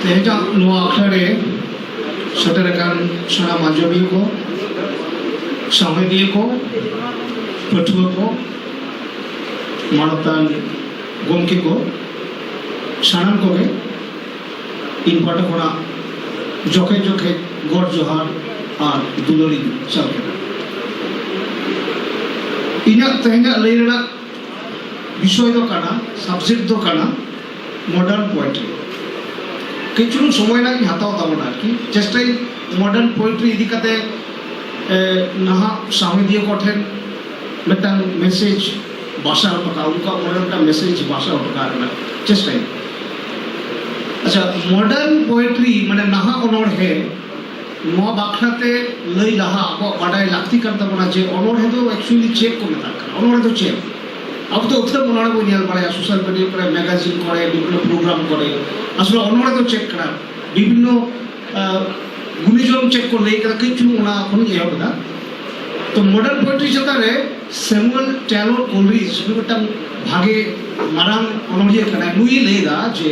ᱛᱮᱦᱮᱧᱟᱜ ᱱᱚᱣᱟ ᱟᱠᱷᱲᱟ ᱨᱮ ᱥᱮᱴᱮᱨ ᱟᱠᱟᱱ ᱥᱟᱱᱟᱢ ᱟᱸᱡᱚᱢᱤᱭᱟᱹ ᱠᱚ ᱥᱟᱶᱦᱮᱫᱤᱭᱟᱹ ᱠᱚ ᱯᱟᱹᱴᱷᱩᱣᱟᱹ ᱠᱚ ᱢᱟᱱᱚᱛᱟᱱ ᱜᱚᱢᱠᱮ ᱠᱚ ᱥᱟᱱᱟᱢ ᱠᱚᱜᱮ ᱤᱧ ᱯᱟᱦᱴᱟ ᱠᱷᱚᱱᱟᱜ ᱡᱚᱠᱷᱮᱡ ᱡᱚᱠᱷᱮᱡ ᱜᱚᱰ ᱡᱚᱦᱟᱨ ᱟᱨ ᱫᱩᱞᱟᱹᱲᱤᱧ ᱪᱟᱞ ᱠᱮᱫᱟ ᱤᱧᱟᱹᱜ ᱛᱮᱦᱮᱧᱟᱜ ᱞᱟᱹᱭ ᱨᱮᱱᱟᱜ ᱵᱤᱥᱚᱭ ᱫᱚ ᱠᱟᱱᱟ ᱥᱟᱵᱡᱮᱠᱴ ᱫᱚ ᱠᱟᱱᱟ ᱢᱚᱰᱟᱨᱱ ᱯᱳᱭᱮᱴᱨᱤ ᱠᱟᱹᱡ ᱪᱩᱞᱩᱝ ᱥᱚᱢᱚᱭ ᱞᱟᱝ ᱤᱧ ᱦᱟᱛᱟᱣ ᱛᱟᱵᱚᱱᱟ ᱟᱨᱠᱤ ᱪᱮᱥᱴᱟᱭ ᱢᱚᱰᱟᱨᱱ ᱯᱳᱭᱮᱴᱨᱤ ᱤᱫᱤ ᱠᱟᱛᱮ ᱱᱟᱦᱟᱜ ᱥᱟᱶᱦᱮᱫᱤᱭᱟᱹ ᱠᱚ ᱴᱷᱮᱱ ᱢᱤᱫᱴᱟᱝ ᱢᱮᱥᱮᱡᱽ ᱵᱟᱥᱟ ᱦᱚᱴᱚ ᱠᱟᱜᱼᱟ ᱩᱱᱠᱩᱣᱟᱜ ᱢᱚᱱᱮ ᱢᱤᱫᱴᱟᱝ ᱢᱮᱥᱮᱡᱽ ᱵᱟᱥᱟ ᱦᱚᱴᱚ ᱠᱟᱜ ᱨᱮᱱᱟᱜ ᱪᱮᱥᱴᱟᱭ ᱟᱪᱪᱷᱟ ᱢᱚᱰᱟᱨᱱ ᱯᱳᱭᱮᱴᱨᱤ ᱢᱟᱱᱮ ᱱᱟᱦᱟᱜ ᱚᱱᱚᱬᱦᱮ ᱱᱚᱣᱟ ᱵᱟᱠᱷᱨᱟᱛᱮ ᱞᱟᱹᱭ ᱞᱟᱦᱟ ᱟᱵᱚᱣᱟᱜ ᱵᱟᱰᱟᱭ ᱞᱟᱹᱠᱛᱤ ᱠᱟᱱ ᱛᱟᱵᱚᱱᱟ ᱡᱮ ᱚᱱᱚᱬᱦᱮ ᱫᱚ ᱮᱠᱪᱩᱭᱮᱞᱤ ᱪᱮᱫ ᱠᱚ ᱢᱮᱛᱟᱜ ᱠᱟᱱᱟ ᱚᱱᱚᱬᱦᱮ ᱫᱚ ᱪᱮᱫ ᱟᱵᱚ ᱫᱚ ᱟᱹᱛᱷᱟᱹᱱ ᱚᱱᱚᱬᱦᱮ ᱵᱚᱱ ᱧᱮᱞ ᱵᱟᱲᱟᱭᱟ ᱥᱳᱥᱟᱞ ᱢᱤᱰᱤᱭᱟ ᱠᱚᱨᱮ ᱢᱮᱜᱟᱡᱤᱱ ᱠᱚᱨᱮ ᱵᱤᱵᱷᱤᱱᱱᱚ ᱯᱨᱳᱜᱨᱟᱢ ᱠᱚᱨᱮ ᱟᱥᱚᱞᱮ ᱚᱱᱚᱬᱦᱮ ᱫᱚ ᱪᱮᱫ ᱠᱟᱱᱟ ᱵᱤᱵᱷᱤᱱᱱᱚ ᱜᱩᱱᱤᱡᱚᱱ ᱪᱮᱫ ᱠᱚ ᱞᱟᱹᱭ ᱠᱟᱫᱟ ᱠᱟᱹᱡ ᱪᱩᱞᱩᱝ ᱚᱱᱟ ᱠᱷᱚᱱᱤᱧ ᱮᱦᱚᱵ ᱮᱫᱟ ᱛᱚ ᱢᱚᱰᱟᱨᱱ ᱯᱳᱭᱮᱴᱨᱤ ᱪᱮᱛᱟᱱ ᱨᱮ ᱥᱮᱢᱩᱭᱮᱞ ᱴᱮᱞᱚᱨ ᱠᱳᱞᱨᱤᱡᱽ ᱱᱩᱭ ᱢᱤᱫᱴᱟᱝ ᱵᱷᱟᱜᱮ ᱢᱟᱨᱟᱝ ᱚᱱᱚᱬᱦᱤᱭᱟᱹ ᱠᱟᱱᱟᱭ ᱱᱩᱭ ᱞᱟᱹᱭᱫᱟ ᱡᱮ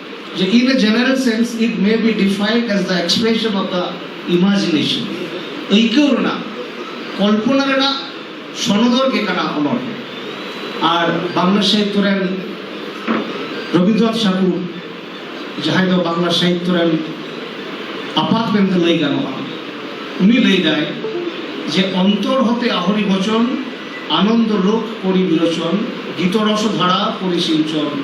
In a general sense, it may be defined as the expression of the imagination. ᱟᱹᱭᱠᱟᱹᱣ ᱨᱮᱱᱟᱜ ᱠᱚᱞᱯᱚᱱᱟ ᱨᱮᱱᱟᱜ ᱥᱚᱱᱚᱫᱚᱨ ᱜᱮ ᱠᱟᱱᱟ ᱚᱱᱚᱬᱦᱮ ᱟᱨ ᱵᱟᱝᱞᱟ ᱥᱟᱦᱤᱛᱛᱚ ᱨᱮᱱ ᱨᱚᱵᱤᱱᱫᱨᱚᱱᱟᱛᱷ ᱴᱷᱟᱠᱩᱨ ᱡᱟᱦᱟᱸᱭ ᱫᱚ ᱵᱟᱝᱞᱟ ᱥᱟᱦᱤᱛᱛᱚ ᱨᱮᱱ ᱟᱯᱟᱛ ᱢᱮᱱᱛᱮ ᱞᱟᱹᱭ ᱜᱟᱱᱚᱜᱼᱟ ᱩᱱᱤ ᱞᱟᱹᱭᱫᱟᱭ ᱡᱮ ᱚᱱᱛᱚᱨ ᱦᱚᱛᱮ ᱟᱦᱚᱨᱤ ᱵᱚᱪᱚᱱ ᱟᱱᱚᱱᱫᱚ ᱞᱳᱠ ᱯᱚᱨᱤ ᱵᱤᱨᱚᱪᱚᱱ ᱜᱤᱛᱚᱨᱚᱥ ᱫᱷᱟᱨᱟ ᱯᱚᱨᱤᱥᱤᱧᱪᱚᱱ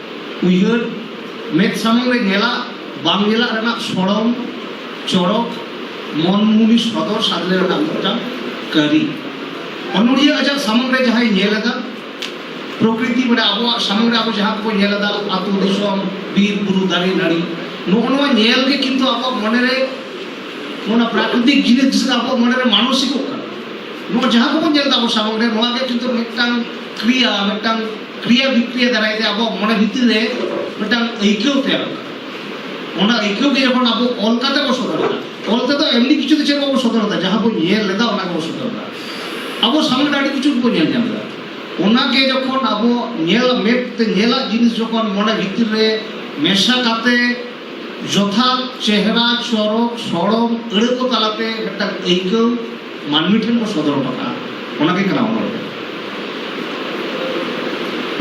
ᱩᱭᱦᱟᱹᱨ ᱢᱮᱫ ᱥᱟᱢᱟᱝ ᱨᱮ ᱧᱮᱞᱟᱜ ᱵᱟᱝ ᱧᱮᱞᱟᱜ ᱨᱮᱱᱟᱜ ᱥᱚᱲᱚᱢ ᱪᱚᱨᱚᱠ ᱢᱚᱱᱢᱩᱱᱤ ᱥᱚᱫᱚᱨ ᱥᱟᱫᱽᱞᱮ ᱨᱮᱱᱟᱜ ᱢᱤᱫᱴᱟᱝ ᱠᱟᱹᱨᱤ ᱚᱱᱚᱲᱤᱭᱟᱹ ᱟᱡᱟᱜ ᱥᱟᱢᱟᱝ ᱨᱮ ᱡᱟᱦᱟᱸᱭ ᱧᱮᱞ ᱮᱫᱟ ᱯᱨᱚᱠᱨᱤᱛᱤ ᱢᱟᱱᱮ ᱟᱵᱚᱣᱟᱜ ᱥᱟᱢᱟᱝ ᱨᱮ ᱟᱵᱚ ᱡᱟᱦᱟᱸ ᱠᱚ ᱧᱮᱞ ᱮᱫᱟ ᱟᱛᱳ ᱫᱤᱥᱚᱢ ᱵᱤᱨ ᱵᱩᱨᱩ ᱫᱟᱨᱮ ᱱᱟᱹᱲᱤ ᱱᱚᱜᱼᱚ ᱱᱚᱣᱟ ᱧᱮᱞ ᱜᱮ ᱠᱤᱱᱛᱩ ᱟᱵᱚᱣᱟᱜ ᱢᱚᱱᱮ ᱨᱮ ᱚᱱᱟ ᱯᱨᱟᱠᱨᱤᱛᱤᱠ ᱡᱤᱱᱤᱥ ᱡᱮᱥᱮ ᱟᱵᱚᱣᱟᱜ ᱢᱚᱱᱮ ᱨᱮ ᱢᱟᱱᱚᱥᱤᱠᱚᱜ ᱠᱟᱱᱟ ᱱᱚᱣᱟ ᱡᱟᱦᱟᱸ ᱠᱚᱵᱚᱱ ᱧᱮᱞ ᱮᱫᱟ ᱟᱵᱚ ᱥᱟᱢᱟᱝ ᱨᱮ ᱱᱚᱣᱟ ᱜᱮ ᱠᱤᱱᱛᱩ ᱢᱤᱫᱴᱟᱝ ᱠᱨᱤᱭᱟ ᱢᱤᱫᱴᱟᱝ ᱠᱨᱤᱭᱟ ᱵᱤᱠᱨᱤᱭᱟ ᱫᱟᱨᱟᱭ ᱛᱮ ᱟᱵᱚ ᱢᱚᱱᱮ ᱵᱷᱤᱛᱤᱨ ᱨᱮ ᱢᱤᱫᱴᱟᱝ ᱟᱹᱭᱠᱟᱹᱣ ᱛᱮᱭᱟᱨ ᱚᱱᱟ ᱟᱹᱭᱠᱟᱹᱣ ᱜᱮ ᱡᱚᱠᱷᱚᱱ ᱟᱵᱚ ᱚᱞ ᱠᱟᱛᱮ ᱵᱚ ᱥᱚᱫᱚᱨ ᱮᱫᱟ ᱚᱞ ᱛᱮᱫᱚ ᱮᱢᱱᱤ ᱠᱤᱪᱷᱩ ᱫᱚ ᱪᱮᱫ ᱵᱟᱵᱚ ᱥᱚᱫᱚᱨ ᱮᱫᱟ ᱡᱟᱦᱟᱸ ᱵᱚ ᱧᱮᱞ ᱞᱮᱫᱟ ᱚᱱᱟ ᱜᱮᱵᱚ ᱥᱚᱫᱚᱨ ᱮᱫᱟ ᱟᱵᱚ ᱥᱟᱢᱱᱮ ᱟᱹᱰᱤ ᱠᱤᱪᱷᱩ ᱵᱚ ᱧᱮᱞ ᱧᱟᱢ ᱮᱫᱟ ᱚᱱᱟ ᱜᱮ ᱡᱚᱠᱷᱚᱱ ᱟᱵᱚ ᱧᱮᱞ ᱢᱮᱫ ᱛᱮ ᱧᱮᱞᱟᱜ ᱡᱤᱱᱤᱥ ᱡᱚᱠᱷᱚᱱ ᱢᱚᱱᱮ ᱵᱷᱤᱛᱤᱨ ᱨᱮ ᱢᱮᱥᱟ ᱠᱟᱛᱮ ᱡᱚᱛᱷᱟᱛ ᱪᱮᱦᱨᱟ ᱪᱚᱨᱚᱠ ᱥᱚᱲᱚᱢ ᱟᱹᱲᱟᱹ ᱠᱚ ᱛᱟᱞᱟᱛᱮ ᱢᱤᱫᱴᱟᱝ ᱟᱹᱭᱠᱟᱹᱣ ᱢᱟᱹᱱᱢᱤ ᱴᱷᱮᱱ ᱠᱚ ᱥᱚᱫᱚᱨ ᱦᱚᱴᱚ ᱠᱟᱜᱼᱟ ᱚᱱᱟᱜᱮ ᱠᱟᱱᱟ ᱚᱱᱚᱬᱦᱮ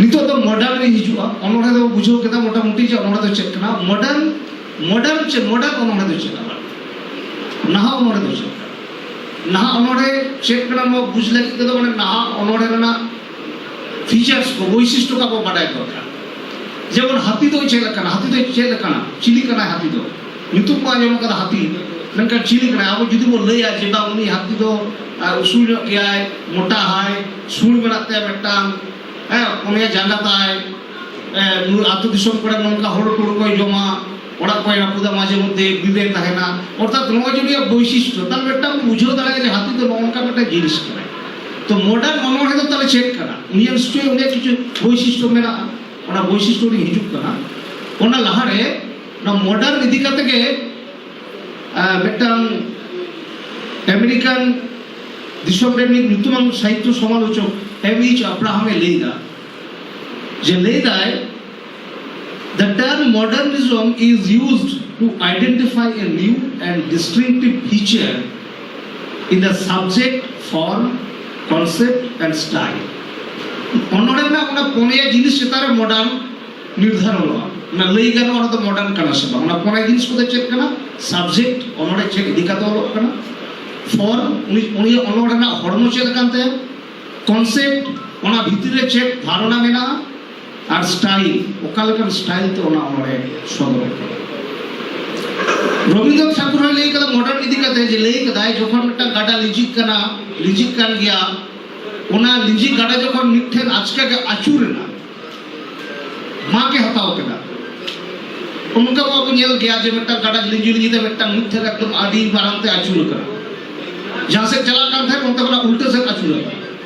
ᱱᱤᱛᱚᱜ ᱫᱚ ᱢᱚᱰᱟᱨᱱ ᱨᱮ ᱦᱤᱡᱩᱜᱼᱟ ᱚᱱᱚᱬᱦᱮ ᱫᱚ ᱵᱩᱡᱷᱟᱹᱣ ᱠᱮᱫᱟ ᱢᱚᱴᱟᱢᱩᱴᱤ ᱡᱮ ᱚᱱᱚᱬᱦᱮ ᱫᱚ ᱪᱮᱫ ᱠᱟᱱᱟ ᱢᱚᱰᱟᱨᱱ ᱢᱚᱰᱟᱨᱱ ᱪᱮᱫ ᱢᱚᱰᱟᱨᱱ ᱚᱱᱚᱬᱦᱮ ᱫᱚ ᱪᱮᱫ ᱟᱵᱟᱨ ᱱᱟᱦᱟᱜ ᱚᱱᱚᱬᱦᱮ ᱫᱚ ᱪᱮᱫ ᱱᱟᱦᱟᱜ ᱚᱱᱚᱬᱦᱮ ᱪᱮᱫ ᱠᱟᱱᱟ ᱱᱚᱣᱟ ᱵᱩᱡᱽ ᱞᱟᱹᱜᱤᱫ ᱛᱮᱫᱚ ᱢᱟᱱᱮ ᱱᱟᱦᱟᱜ ᱚᱱᱚᱬᱦᱮ ᱨᱮᱱᱟᱜ ᱯᱷᱤᱪᱟᱨᱥ ᱠᱚ ᱵᱳᱭᱥᱤᱥᱴᱚ ᱠᱚ ᱵᱟᱰᱟᱭ ᱫᱚᱨᱠᱟᱨ ᱡᱮᱢᱚᱱ ᱦᱟᱹᱛᱤ ᱫᱚ ᱪᱮᱫ ᱞᱮᱠᱟᱱᱟ ᱦᱟᱹᱛᱤ ᱫᱚ ᱪᱮᱫ ᱞᱮᱠᱟᱱᱟ ᱪᱤᱞᱤ ᱠᱟᱱᱟᱭ ᱦᱟᱹᱛᱤ ᱫᱚ ᱧᱩᱛᱩᱢ ᱵᱚᱱ ᱟᱸᱡᱚᱢ ᱠᱟᱫᱟ ᱦᱟᱹᱛᱤ ᱢᱮᱱᱠᱷᱟᱱ ᱪᱤᱞᱤ ᱠᱟᱱᱟᱭ ᱟᱵᱚ ᱡᱩᱫᱤ ᱵᱚᱱ ᱞᱟᱹᱭᱟ ᱡᱮ ᱵᱟᱝ ᱩᱱᱤ ᱦᱟᱹᱛᱤ ᱫᱚ ᱩᱥᱩᱞ ᱧᱚᱜ ᱜᱮᱭᱟᱭ ᱢᱚᱴᱟ ᱦᱟᱭ ᱥᱩᱲ ᱢᱮᱱᱟᱜ ᱛᱟᱭᱟ ᱢᱤᱫᱴᱟᱝ ᱦᱮᱸ ᱯᱩᱱᱭᱟ ᱡᱟᱸᱜᱟ ᱛᱟᱭ ᱟᱹᱛᱩ ᱫᱤᱥᱚᱢ ᱠᱚᱨᱮ ᱱᱚᱝᱠᱟ ᱦᱚᱲ ᱠᱚ ᱡᱚᱢᱟ ᱚᱲᱟᱜ ᱠᱚᱭ ᱨᱟᱹᱯᱩᱫᱟ ᱢᱟᱡᱷᱮ ᱢᱚᱫᱽᱫᱷᱮ ᱵᱤᱵᱮᱠ ᱛᱟᱦᱮᱱᱟ ᱚᱨᱛᱷᱟᱛ ᱱᱚᱣᱟ ᱡᱩᱫᱤ ᱵᱳᱭᱥᱤᱥᱴᱚ ᱛᱟᱦᱚᱞᱮ ᱢᱤᱫᱴᱟᱝ ᱵᱩᱡᱷᱟᱹᱣ ᱫᱟᱲᱮᱭᱟᱜᱼᱟ ᱡᱮ ᱦᱟᱹᱛᱤ ᱫᱚ ᱱᱚᱝᱠᱟ ᱢᱤᱫᱴᱟᱝ ᱡᱤᱱᱤᱥ ᱠᱟᱱᱟ ᱛᱚ ᱢᱚᱰᱟᱨᱱ ᱚᱱᱚᱬᱦᱮ ᱫᱚ ᱛᱟᱦᱚᱞᱮ ᱪᱮᱫ ᱠᱟᱱᱟ ᱩᱱᱤᱭᱟᱜ ᱱᱤᱥᱪᱚᱭ ᱩᱱᱤᱭᱟᱜ ᱠᱤᱪᱷᱩ ᱵᱳᱭᱥᱤᱥᱴᱚ ᱢᱮᱱᱟᱜᱼᱟ ᱚᱱᱟ ᱵᱳᱭᱥᱤᱥᱴᱚ ᱨᱮ ᱦᱤᱡᱩᱜ ᱠᱟᱱᱟ ᱚᱱᱟ ᱞᱟᱦᱟᱨᱮ ᱱᱚᱣᱟ ᱢᱚᱰᱟᱨᱱ ᱤᱫᱤ ᱠᱟᱛᱮ ᱜᱮ ᱢᱤᱫᱴᱟᱝ ᱟᱢᱮᱨᱤᱠᱟᱱ ᱫᱤᱥᱚᱢ ᱨᱮ ᱢᱤᱫ ᱧᱩᱛᱩᱢᱟᱱ ᱥᱟᱦᱤᱛᱛᱚ ᱥᱚᱢᱟᱞᱳᱪᱚᱠ ᱮᱢ ᱤᱪ ᱟᱵᱨᱟᱦᱟᱢᱮ ᱞᱟᱹᱭᱫᱟ ᱡᱮ ᱞᱟᱹᱭᱫᱟᱭ The term modernism is used to identify a new and distinctive feature in the subject, form, concept and style. ᱚᱱᱚᱲᱮ ᱨᱮᱱᱟᱜ ᱚᱱᱟ ᱯᱚᱱᱭᱟ ᱡᱤᱱᱤᱥ ᱪᱮᱛᱟᱱ ᱨᱮ ᱢᱚᱰᱟᱨᱱ ᱱᱤᱨᱫᱷᱟᱨᱚᱱᱚᱜᱼᱟ ᱚᱱᱟ ᱞᱟᱹᱭ ᱜᱟᱱᱚᱜᱼᱟ ᱚᱱᱟ ᱫᱚ ᱢᱚᱰᱟᱨᱱ ᱠᱟᱱᱟ ᱥᱮ ᱵᱟᱝ ᱚᱱᱟ ᱯᱚᱱᱭᱟ ᱡᱤᱱᱤᱥ ᱠᱚᱫᱚ ᱪᱮᱫ ᱠᱟᱱᱟ ᱥᱟᱵᱡᱮᱠᱴ ᱚᱱᱚᱲᱮ ᱪᱮᱫ ᱤᱫᱤ ᱠᱟᱛᱮ ᱚᱞᱚᱜ ᱠᱟᱱᱟ ᱯᱷᱚᱨᱢ ᱩᱱᱤ ᱩᱱᱤ ᱚᱱᱚᱲ ᱨᱮᱱᱟᱜ ᱦᱚᱲᱢᱚ ᱪᱮᱫ ᱠᱟᱱ ᱛᱟᱭᱟ ᱠᱚᱱᱥᱮᱯᱴ ᱚᱱᱟ ᱵᱷᱤᱛᱤᱨ ᱨᱮ ᱪᱮᱫ ᱫᱷᱟᱨᱚᱱᱟ ᱢᱮᱱᱟᱜᱼᱟ ᱟᱨ ᱥᱴᱟᱭᱤᱞ ᱚᱠᱟ ᱞᱮᱠᱟᱱ ᱥᱴᱟᱭᱤᱞ ᱛᱮ ᱚᱱᱟ ᱚᱱᱚᱲᱦᱮ ᱥᱚᱫᱚᱨ ᱟᱠᱟᱫᱟ ᱨᱚᱵᱤᱱᱫᱨᱚ ᱴᱷᱟᱠᱩᱨ ᱦᱚᱸ ᱞᱟᱹᱭ ᱠᱟᱫᱟ ᱢᱚᱰᱟᱨᱱ ᱤᱫᱤ ᱠᱟᱛᱮ ᱡᱮ ᱞᱟᱹᱭ ᱠᱟᱫᱟᱭ ᱡᱚᱠᱷᱚᱱ ᱢᱤᱫᱴᱟᱝ ᱜᱟᱰᱟ ᱞᱤᱸᱡᱤᱜ ᱠᱟᱱᱟ ᱞᱤᱸᱡᱤᱜ ᱠᱟᱱ ᱜᱮᱭᱟ ᱚᱱᱟ ᱞᱤᱸᱡᱤ ᱜᱟᱰᱟ ᱡᱚᱠᱷᱚᱱ ᱢᱤᱫᱴᱷᱮᱱ ᱟᱪᱠᱟ ᱜᱮ ᱟᱹᱪᱩᱨ ᱮᱱᱟ ᱢᱟᱜ ᱮ ᱦᱟᱛᱟᱣ ᱠᱮᱫᱟ ᱚᱱᱠᱟ ᱵᱟᱵᱚ ᱧᱮᱞ ᱜᱮᱭᱟ ᱡᱮ ᱢᱤᱫᱴᱟᱝ ᱜᱟᱰᱟ ᱞᱤᱸᱡᱤ ᱞᱤᱸᱡᱤ ᱛᱮ ᱢᱤᱫᱴᱟᱝ ᱢᱤᱫᱴᱷᱮᱱ ᱮᱠᱫᱚᱢ ᱟᱹᱰᱤ ᱢᱟᱨᱟᱝ ᱛᱮ ᱟᱹᱪᱩᱨ ᱠᱟᱱᱟ ᱡᱟᱦᱟᱸ ᱥᱮᱫ ᱪᱟᱞᱟᱜ ᱠᱟᱱ ᱛᱟᱦᱮᱸᱫ ᱚᱱᱛᱮ ᱠᱷᱚᱱᱟᱜ ᱩᱞᱴᱟᱹ ᱥᱮᱫ ᱟᱹᱪᱩᱨ ᱟᱠᱟᱱᱟ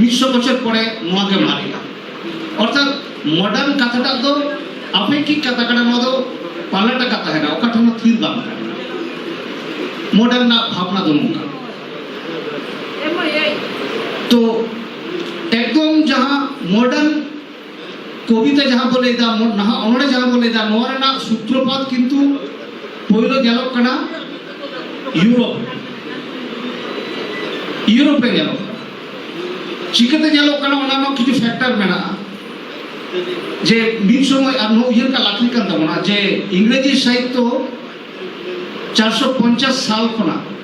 ᱢᱤᱫᱥᱚ ᱵᱚᱪᱷᱚᱨ ᱯᱚᱨᱮ ᱱᱚᱣᱟ ᱜᱮ ᱢᱟᱨᱮᱜᱼᱟ ᱚᱨᱛᱷᱟᱛ ᱢᱚᱰᱟᱨᱱ ᱠᱟᱛᱷᱟᱴᱟᱜ ᱫᱚ ᱟᱯᱮᱠᱤᱠ ᱠᱟᱛᱷᱟ ᱠᱟᱱᱟ ᱱᱚᱣᱟ ᱫᱚ ᱯᱟᱞᱟᱴ ᱟᱠᱟᱫ ᱛᱟᱦᱮᱱᱟ ᱚᱠᱟ ᱴᱷᱮᱱ ᱦᱚᱸ ᱛᱷᱤᱨ ᱵᱟᱝ ᱛᱟᱦᱮᱱᱟ ᱢᱚᱰᱟᱨᱱ ᱨᱮᱱᱟᱜ ᱵᱷᱟᱵᱽᱱᱟ ᱫᱚ ᱱᱚᱝᱠᱟ ᱛᱚ ᱮᱠᱫᱚᱢ ᱡᱟᱦᱟᱸ ᱢᱚᱰᱟᱨᱱ ᱠᱚᱵᱤᱛᱟ ᱡᱟᱦᱟᱸ ᱵᱚ ᱞᱟᱹᱭᱫᱟ ᱱᱟᱦᱟᱜ ᱚᱱᱚᱲᱮ ᱡᱟᱦᱟᱸ ᱵᱚ ᱞᱟᱹᱭᱫᱟ ᱱᱚᱣᱟ ᱨᱮᱱᱟᱜ ᱥᱩᱛᱨᱚᱯᱟᱛ ᱠᱤᱱᱛᱩ ᱯᱳᱭᱞᱳ ᱧᱮᱞᱚᱜ ᱠᱟᱱᱟ ᱤᱭᱩᱨᱳᱯ ᱤᱭᱩᱨᱳᱯ ᱨᱮ ᱧᱮᱞᱚᱜ ᱠᱟᱱᱟ ᱪᱤᱠᱟᱹᱛᱮ ᱧᱮᱞᱚᱜ ᱠᱟᱱᱟ ᱚᱱᱟ ᱨᱮᱱᱟᱜ ᱠᱤᱪᱷᱩ ᱯᱷᱮᱠᱴᱟᱨ ᱢᱮᱱᱟᱜᱼᱟ ᱡᱮ ᱢᱤᱫ ᱥᱚᱢᱚᱭ ᱟᱨ ᱱᱚᱣᱟ ᱩᱭᱦᱟᱹᱨ ᱠᱟᱜ ᱞᱟᱹᱠᱛᱤ ᱠᱟᱱ ᱛᱟᱵᱚᱱᱟ ᱡᱮ ᱤᱝᱨᱮᱡᱤ ᱥᱟᱦᱤᱛᱛᱚ ᱪᱟᱨᱥᱚ ᱯᱚᱧᱪᱟᱥ ᱥᱟᱞ ᱠᱷᱚᱱᱟᱜ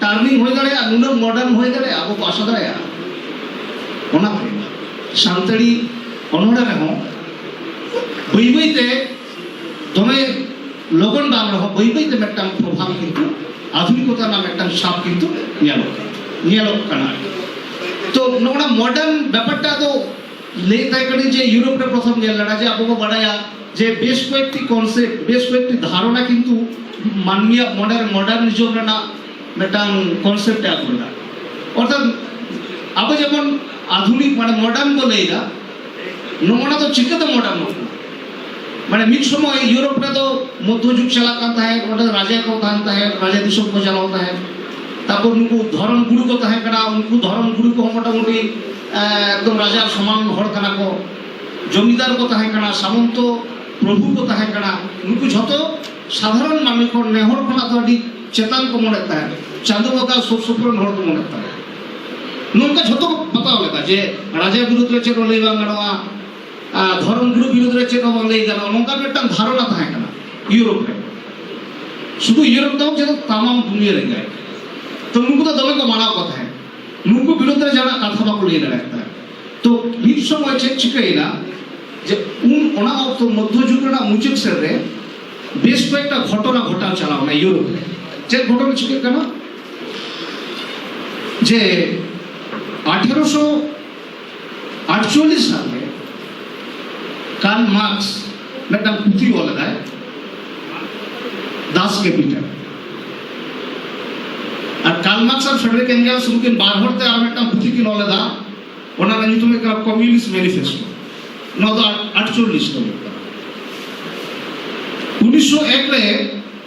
ᱴᱟᱨᱱᱤᱝ ᱦᱩᱭ ᱫᱟᱲᱮᱭᱟᱜᱼᱟ ᱱᱩᱱᱟᱹᱜ ᱢᱚᱰᱟᱨᱱ ᱦᱩᱭ ᱫᱟᱲᱮᱭᱟᱜᱼᱟ ᱟᱵᱚ ᱠᱚ ᱟᱥᱟ ᱫᱟᱲᱮᱭᱟᱜᱼᱟ ᱚᱱᱟᱛᱮ ᱥᱟᱱᱛᱟᱲᱤ ᱚᱱᱚᱲᱦᱮ ᱨᱮᱦᱚᱸ ᱵᱟᱹᱭ ᱵᱟᱹᱭ ᱛᱮ ᱫᱚᱢᱮ ᱞᱚᱜᱚᱱ ᱵᱟᱝ ᱨᱮᱦᱚᱸ ᱵᱟᱹᱭ ᱵᱟᱹᱭ ᱛᱮ ᱢᱤᱫᱴᱟᱝ ᱯᱨᱚᱵᱷᱟᱵᱽ ᱠᱤᱱᱛᱩ ᱟᱫᱷᱩᱱᱤᱠᱚᱛᱟ ᱨᱮᱱᱟᱜ ᱢᱤᱫᱴᱟᱝ ᱥᱟᱵ ᱠᱤᱱᱛᱩ ᱧᱮᱞᱚᱜ ᱠᱟᱱᱟ ᱧᱮᱞᱚᱜ ᱠᱟᱱᱟ ᱛᱚ ᱱᱚᱜᱼᱚ ᱱᱟ ᱢᱚᱰᱟᱨᱱ ᱵᱮᱯᱟᱨᱴᱟ ᱫᱚ ᱞᱟᱹᱭ ᱛᱟᱦᱮᱸ ᱠᱟᱹᱱᱟᱹᱧ ᱡᱮ ᱤᱭᱩᱨᱳᱯ ᱨᱮ ᱯᱨᱚᱛᱷᱚᱢ ᱧᱮᱞ ᱞᱮᱱᱟ ᱡᱮ ᱟᱵᱚ ᱵᱚ ᱵᱟᱰᱟᱭᱟ ᱡᱮ ᱵᱮᱥ ᱠᱚᱭᱮᱠᱴᱤ ᱠᱚᱱᱥᱮᱯᱴ ᱵᱮᱥ ᱠᱚᱭᱮᱠᱴᱤ ᱫᱷᱟᱨᱚᱱᱟ ᱠᱤᱱᱛᱩ ᱢᱟᱹᱱᱢᱤᱭᱟᱜ ᱢᱚᱱᱮ ᱨᱮ ᱢᱚᱰᱟᱨᱱᱤᱡᱚᱢ ᱨᱮᱱᱟᱜ ᱢᱤᱫᱴᱟᱝ ᱠᱚᱱᱥᱮᱯᱴ ᱮ ᱟᱹᱜᱩ ᱞᱮᱫᱟ ᱚᱨᱛᱷᱟᱛ ᱟᱵᱚ ᱡᱮᱢᱚᱱ ᱟধᱩᱱᱤᱠ ᱢᱟᱱᱮ ᱢᱚᱰᱟᱨᱱ ᱵᱚ ᱞᱟᱹᱭᱫᱟ ᱱᱚᱜᱼᱚᱱᱟ ᱫᱚ ᱪᱤᱠᱟᱹᱛᱮ ᱢᱚᱰᱟᱨᱱ ᱢᱟᱱᱮ ᱢᱤᱫ ᱥᱚᱢᱚᱭ ᱤᱭᱩᱨᱳᱯ ᱨᱮᱫᱚ ᱢᱚᱫᱽᱫᱷᱚ ᱡᱩᱜᱽ ᱪᱟᱞᱟᱜ ᱠᱟᱱ ᱛᱟᱦᱮᱸᱫ ᱚᱸᱰᱮ ᱨᱟᱡᱟ ᱠᱚ ᱛᱟᱦᱮᱱ ᱛᱟᱦᱮᱸᱫ ᱨᱟᱡᱟ ᱫᱤᱥᱚᱢ ᱠᱚ ᱪᱟᱞᱟᱣ ᱛᱟᱦᱮᱸᱫ ᱛᱟᱨᱯᱚᱨ ᱱᱩᱠᱩ ᱫᱷᱚᱨᱚᱢ ᱜᱩᱨᱩ ᱠᱚ ᱛᱟᱦᱮᱸ ᱠᱟᱱᱟ ᱩᱱᱠᱩ ᱫᱷᱚᱨᱚᱢ ᱜᱩᱨᱩ ᱠᱚᱦᱚᱸ ᱢᱚᱴᱟᱢᱩᱴᱤ ᱮᱠᱫᱚᱢ ᱨᱟᱡᱟ ᱥᱚᱢᱟᱱ ᱦᱚᱲ ᱠᱟᱱᱟ ᱠᱚ ᱡᱚᱢᱤᱫᱟᱨ ᱠᱚ ᱛᱟᱦᱮᱸ ᱠᱟᱱᱟ ᱥᱟᱢᱚᱱᱛᱚ ᱯᱨᱚᱵᱷᱩ ᱠᱚ ᱛᱟᱦᱮᱸ ᱠᱟᱱᱟ ᱱᱩᱠᱩ ᱡᱷᱚᱛᱚ ᱥᱟᱫᱷᱟᱨᱚᱱ ᱢᱟᱹᱱᱢᱤ ᱠᱚ ᱱᱮᱦᱚᱲ ᱠᱷᱚᱱᱟᱜ ᱫᱚ ᱟᱹᱰᱤ ᱪᱮᱛᱟᱱ ᱠᱚ ᱢᱚᱱᱮ ᱛᱟᱦᱮᱸ ᱪᱟᱸᱫᱚ ᱵᱚᱸᱜᱟ ᱥᱩᱨ ᱥᱩᱯᱩᱨ ᱦᱚᱲ ᱠᱚ ᱢᱚᱱᱮ ᱛᱟᱦᱮᱸ ᱱᱚᱝᱠᱟ ᱡᱷᱚᱛᱚ ᱠᱚ ᱵᱟᱛᱟᱣ ᱞᱮᱫᱟ ᱡᱮ ᱨᱟᱡᱟ ᱵᱤᱨᱩᱫᱽ ᱨᱮ ᱪᱮᱫ ᱦᱚᱸ ᱞᱟᱹᱭ ᱵᱟᱝ ᱜᱟᱱᱚᱜᱼᱟ ᱫᱷᱚᱨᱚᱢ ᱜᱩᱨᱩ ᱵᱤᱨᱩᱫᱽ ᱨᱮ ᱪᱮᱫ ᱦᱚᱸ ᱵᱟᱝ ᱞᱟᱹᱭ ᱜᱟᱱᱚᱜᱼᱟ ᱱᱚᱝᱠᱟ ᱢᱤᱫᱴᱟᱝ ᱫᱷᱟᱨᱚᱱᱟ ᱛᱟᱦᱮᱸ ᱠᱟᱱᱟ ᱤᱭᱩᱨᱳᱯ ᱨᱮ ᱥᱩᱫᱷᱩ ᱤᱭᱩᱨᱳᱯ ᱫᱚ ᱡᱚᱛᱚ ᱛᱟᱢᱟᱢ ᱫᱩᱱᱤᱭᱟᱹ ᱨᱮᱜᱮ ᱛᱚ ᱱᱩᱠᱩ ᱫᱚ ᱫᱚᱢᱮ ᱠᱚ ᱢᱟᱱᱟᱣ ᱠᱚ ᱛᱟᱦᱮᱸᱫ ᱱᱩᱠᱩ ᱵᱤᱨᱩᱫᱷ ᱨᱮ ᱡᱟᱦᱟᱱᱟᱜ ᱠᱟᱛᱷᱟ ᱵᱟᱠᱚ ᱞᱟᱹᱭ ᱫᱟᱲᱮᱭᱟᱜ ᱠᱟᱱᱟ ᱛᱚ ᱢᱤᱫ ᱥᱚᱢᱚᱭ ᱪᱮᱫ ᱪᱤᱠᱟᱹᱭᱮᱱᱟ ᱡᱮ ᱩᱱ ᱚᱱᱟ ᱚᱠᱛᱚ ᱢᱚᱫᱽᱫᱷᱚ ᱡᱩᱜᱽ ᱨᱮᱱᱟᱜ ᱢᱩᱪᱟᱹᱫ ᱥᱮᱫ ᱨᱮ ᱵᱮᱥ ᱠᱚᱭᱮᱠᱴᱟ ᱜᱷᱚᱴᱚᱱᱟ ᱜᱷᱚᱴᱟᱣ ᱪᱟᱞᱟᱣᱱᱟ ᱤᱭᱩᱨᱳᱯ ᱨᱮ ᱪᱮᱫ ᱜᱷᱚᱴᱚᱱᱟ ᱪᱤᱠᱟᱹᱜ ᱠᱟᱱᱟ ᱡᱮ ᱟᱴᱷᱮᱨᱚᱥᱚ ᱟᱴᱪᱚᱞᱞᱤᱥ ᱥᱟᱞ ᱨᱮ ᱠᱟᱨᱞ ᱢᱟᱨᱠᱥ ᱢᱤᱫᱴᱟᱝ ᱯᱩᱛᱷᱤ ᱚᱞ ᱞᱮᱫᱟᱭ ᱫᱟᱥ ᱠᱮᱯᱤᱴᱟᱞ ᱟᱨ ᱠᱟᱨᱞ ᱢᱟᱨᱠᱥ ᱟᱨ ᱯᱷᱮᱰᱨᱤᱠ ᱮᱝᱜᱮᱞᱥ ᱩᱱᱠᱤᱱ ᱵᱟᱨ ᱦᱚᱲ ᱛᱮ ᱟᱨ ᱢᱤᱫᱴᱟᱝ ᱯᱩᱛᱷᱤ ᱠᱤᱱ ᱚᱞ ᱞᱮᱫᱟ ᱚᱱᱟ ᱨᱮᱱᱟᱜ ᱧᱩᱛᱩᱢ ᱦᱩᱭᱩᱜ ᱠᱟᱱᱟ ᱠᱚᱢᱤᱭᱩᱱᱤᱥᱴ ᱢᱮᱱᱤᱯᱷᱮᱥᱴᱳ ᱱᱚᱣᱟ ᱫᱚ ᱟᱴᱪᱚᱞᱞᱤᱥ ᱫᱚ ᱦᱩᱭᱩᱜ ᱠᱟᱱᱟ ᱩᱱᱤᱥᱥᱚ ᱮᱠ ᱨᱮ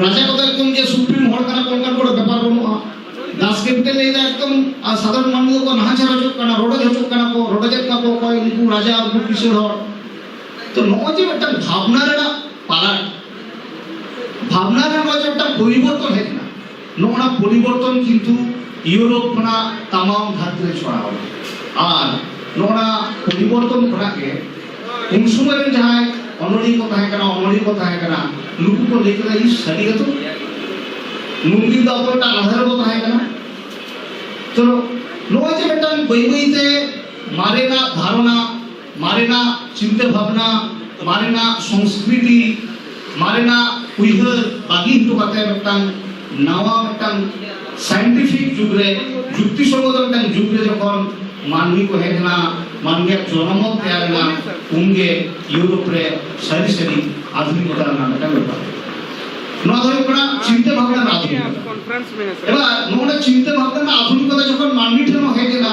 ᱨᱟᱡᱟ ᱠᱚᱫᱚ ᱮᱠᱫᱚᱢ ᱡᱮ ᱥᱩᱯᱨᱤᱢ ᱦᱚᱲ ᱠᱟᱱᱟ ᱠᱚ ᱚᱱᱠᱟᱱ ᱠᱚᱫᱚ ᱵᱮᱯᱟᱨ ᱵᱟᱹᱱᱩᱜᱼᱟ ᱫᱟᱥ ᱠᱮᱯᱴᱮᱱ ᱞᱟᱹᱭ ᱫᱟ ᱮᱠᱫᱚᱢ ᱟᱨ ᱥᱟᱫᱷᱟᱨᱚᱱ ᱢᱟᱹᱱᱢᱤ ᱫᱚᱠᱚ ᱱᱟᱦᱟᱪᱟᱨ ᱦᱚᱪᱚᱜ ᱠᱟᱱᱟ ᱨᱚᱰᱚᱡ ᱦᱚᱪᱚᱜ ᱠᱟᱱᱟ ᱠᱚ ᱨᱚᱰᱚᱡᱮᱫ ᱠᱚᱣᱟ ᱠᱚ ᱚᱠᱚᱭ ᱩᱱᱠᱩ ᱨᱟᱡᱟ ᱩᱱᱠᱩ ᱠᱤᱥᱟᱹᱬ ᱦᱚᱲ ᱛᱚ ᱱᱚᱜᱼᱚᱭ ᱡᱮ ᱢᱤᱫᱴᱟᱝ ᱵᱷᱟᱵᱽᱱᱟ ᱨᱮᱱᱟᱜ ᱯᱟᱞᱟᱴ ᱵᱷᱟᱵᱽᱱᱟ ᱨᱮ ᱱᱚᱜᱼᱚᱭ ᱡᱮ ᱢᱤᱫᱴᱟᱝ ᱯᱚᱨᱤᱵᱚᱨᱛᱚᱱ ᱦᱮᱡ ᱮᱱᱟ ᱱᱚᱜᱼᱚᱱᱟ ᱯᱚᱨᱤᱵᱚᱨᱛᱚᱱ ᱠᱤᱱᱛᱩ ᱤᱭᱩᱨᱳᱯ ᱠᱷᱚᱱᱟᱜ ᱛᱟᱢᱟᱢ ᱫᱷᱟᱹᱨᱛᱤ ᱨᱮ ᱪᱷᱚᱲᱟᱣ ᱟᱨ ᱱᱚᱜᱼᱚᱱᱟ ᱯᱚᱨᱤᱵᱚᱨᱛᱚᱱ ᱠᱷᱚᱱᱟᱜ ᱜᱮ ᱩᱱ ᱥᱚᱢᱚᱭ ᱨᱮᱱ ᱡᱟᱦᱟᱸᱭ ᱚᱱᱚᱞᱤᱭᱟᱹ ᱠᱚ ᱛᱟᱦᱮᱸ ᱠᱟᱱᱟ ᱚᱱᱚᱞᱤᱭᱟᱹ ᱠᱚ ᱛᱟᱦᱮᱸ ᱠᱟᱱᱟ ᱱᱩᱠᱩ ᱠᱚ ᱞᱟᱹᱭ ᱠᱮᱫᱟ ᱤᱧ ᱥᱟᱹᱨᱤ ᱜᱮᱛᱚ ᱱᱩᱠᱩ ᱫᱚ ᱟᱵᱚ ᱢᱤᱫᱴᱟᱝ ᱟᱫᱷᱟᱨ ᱵᱚ ᱛᱟᱦᱮᱸ ᱠᱟᱱᱟ ᱛᱚ ᱱᱚᱜᱼᱚᱭ ᱡᱮ ᱢᱤᱫᱴᱟᱝ ᱵᱟᱹᱭ ᱵᱟᱹᱭᱛᱮ ᱢᱟᱨᱮᱱᱟᱜ ᱫᱷᱟᱨᱚᱱᱟ ᱢᱟᱨᱮᱱᱟ ᱪᱤᱱᱛᱟᱹ ᱵᱷᱟᱵᱽᱱᱟ ᱢᱟᱨᱮᱱᱟ ᱥᱚᱝᱥᱠᱨᱤᱛᱤ ᱢᱟᱨᱮᱱᱟ ᱩᱭᱦᱟᱹᱨ ᱵᱟᱹᱜᱤ ᱦᱚᱴᱚ ᱠᱟᱛᱮ ᱢᱤᱫᱴᱟᱝ ᱱᱟᱣᱟ ᱢᱤᱫᱴᱟᱝ ᱥᱟᱭᱮᱱᱴᱤᱯᱷᱤᱠ ᱡᱩᱜᱽ ᱨᱮ ᱡᱩᱠᱛᱤ ᱥᱚᱝᱜᱚᱛ ᱢᱤᱫᱴᱟᱝ ᱡᱩᱜᱽ ᱨᱮ ᱡᱚᱠᱷᱚᱱ ᱢᱟᱹᱱᱢᱤ ᱠᱚ ᱦᱮᱡ ᱮᱱᱟ ᱢᱟᱹᱱᱢᱤᱭᱟᱜ ᱡᱚᱱᱚᱢᱚᱛ ᱛᱮᱭᱟᱨ ᱮᱱᱟ ᱩᱱᱜᱮ ᱤᱭᱩᱨᱳᱯ ᱨᱮ ᱥᱟᱹᱨᱤ ᱥᱟᱹᱨᱤ ᱟᱫᱷᱩᱱᱤᱠᱚᱛᱟ ᱨᱮᱱᱟᱜ ᱢᱤᱫᱴᱟᱝ ᱵᱮᱯᱟᱨ ᱱᱚᱣᱟ ᱫᱚ ᱦᱩᱭᱩᱜ ᱠᱟᱱᱟ ᱪᱤᱱᱛᱟᱹ ᱵᱷᱟᱵᱽᱱᱟ ᱨᱮᱱᱟᱜ ᱟᱫᱷᱩᱱᱤᱠᱚᱛᱟ ᱮᱵᱟᱨ ᱱᱚᱜᱼᱚ ᱱᱚᱣᱟ ᱪᱤᱱᱛᱟᱹ ᱵᱷᱟᱵᱽᱱᱟ ᱨᱮᱱᱟᱜ ᱟᱫᱷᱩᱱᱤᱠᱚᱛᱟ ᱡᱚᱠᱷᱚᱱ ᱢᱟᱹᱱᱢᱤ ᱴᱷᱮᱱ ᱦᱚᱸ ᱦᱮᱡ ᱮᱱᱟ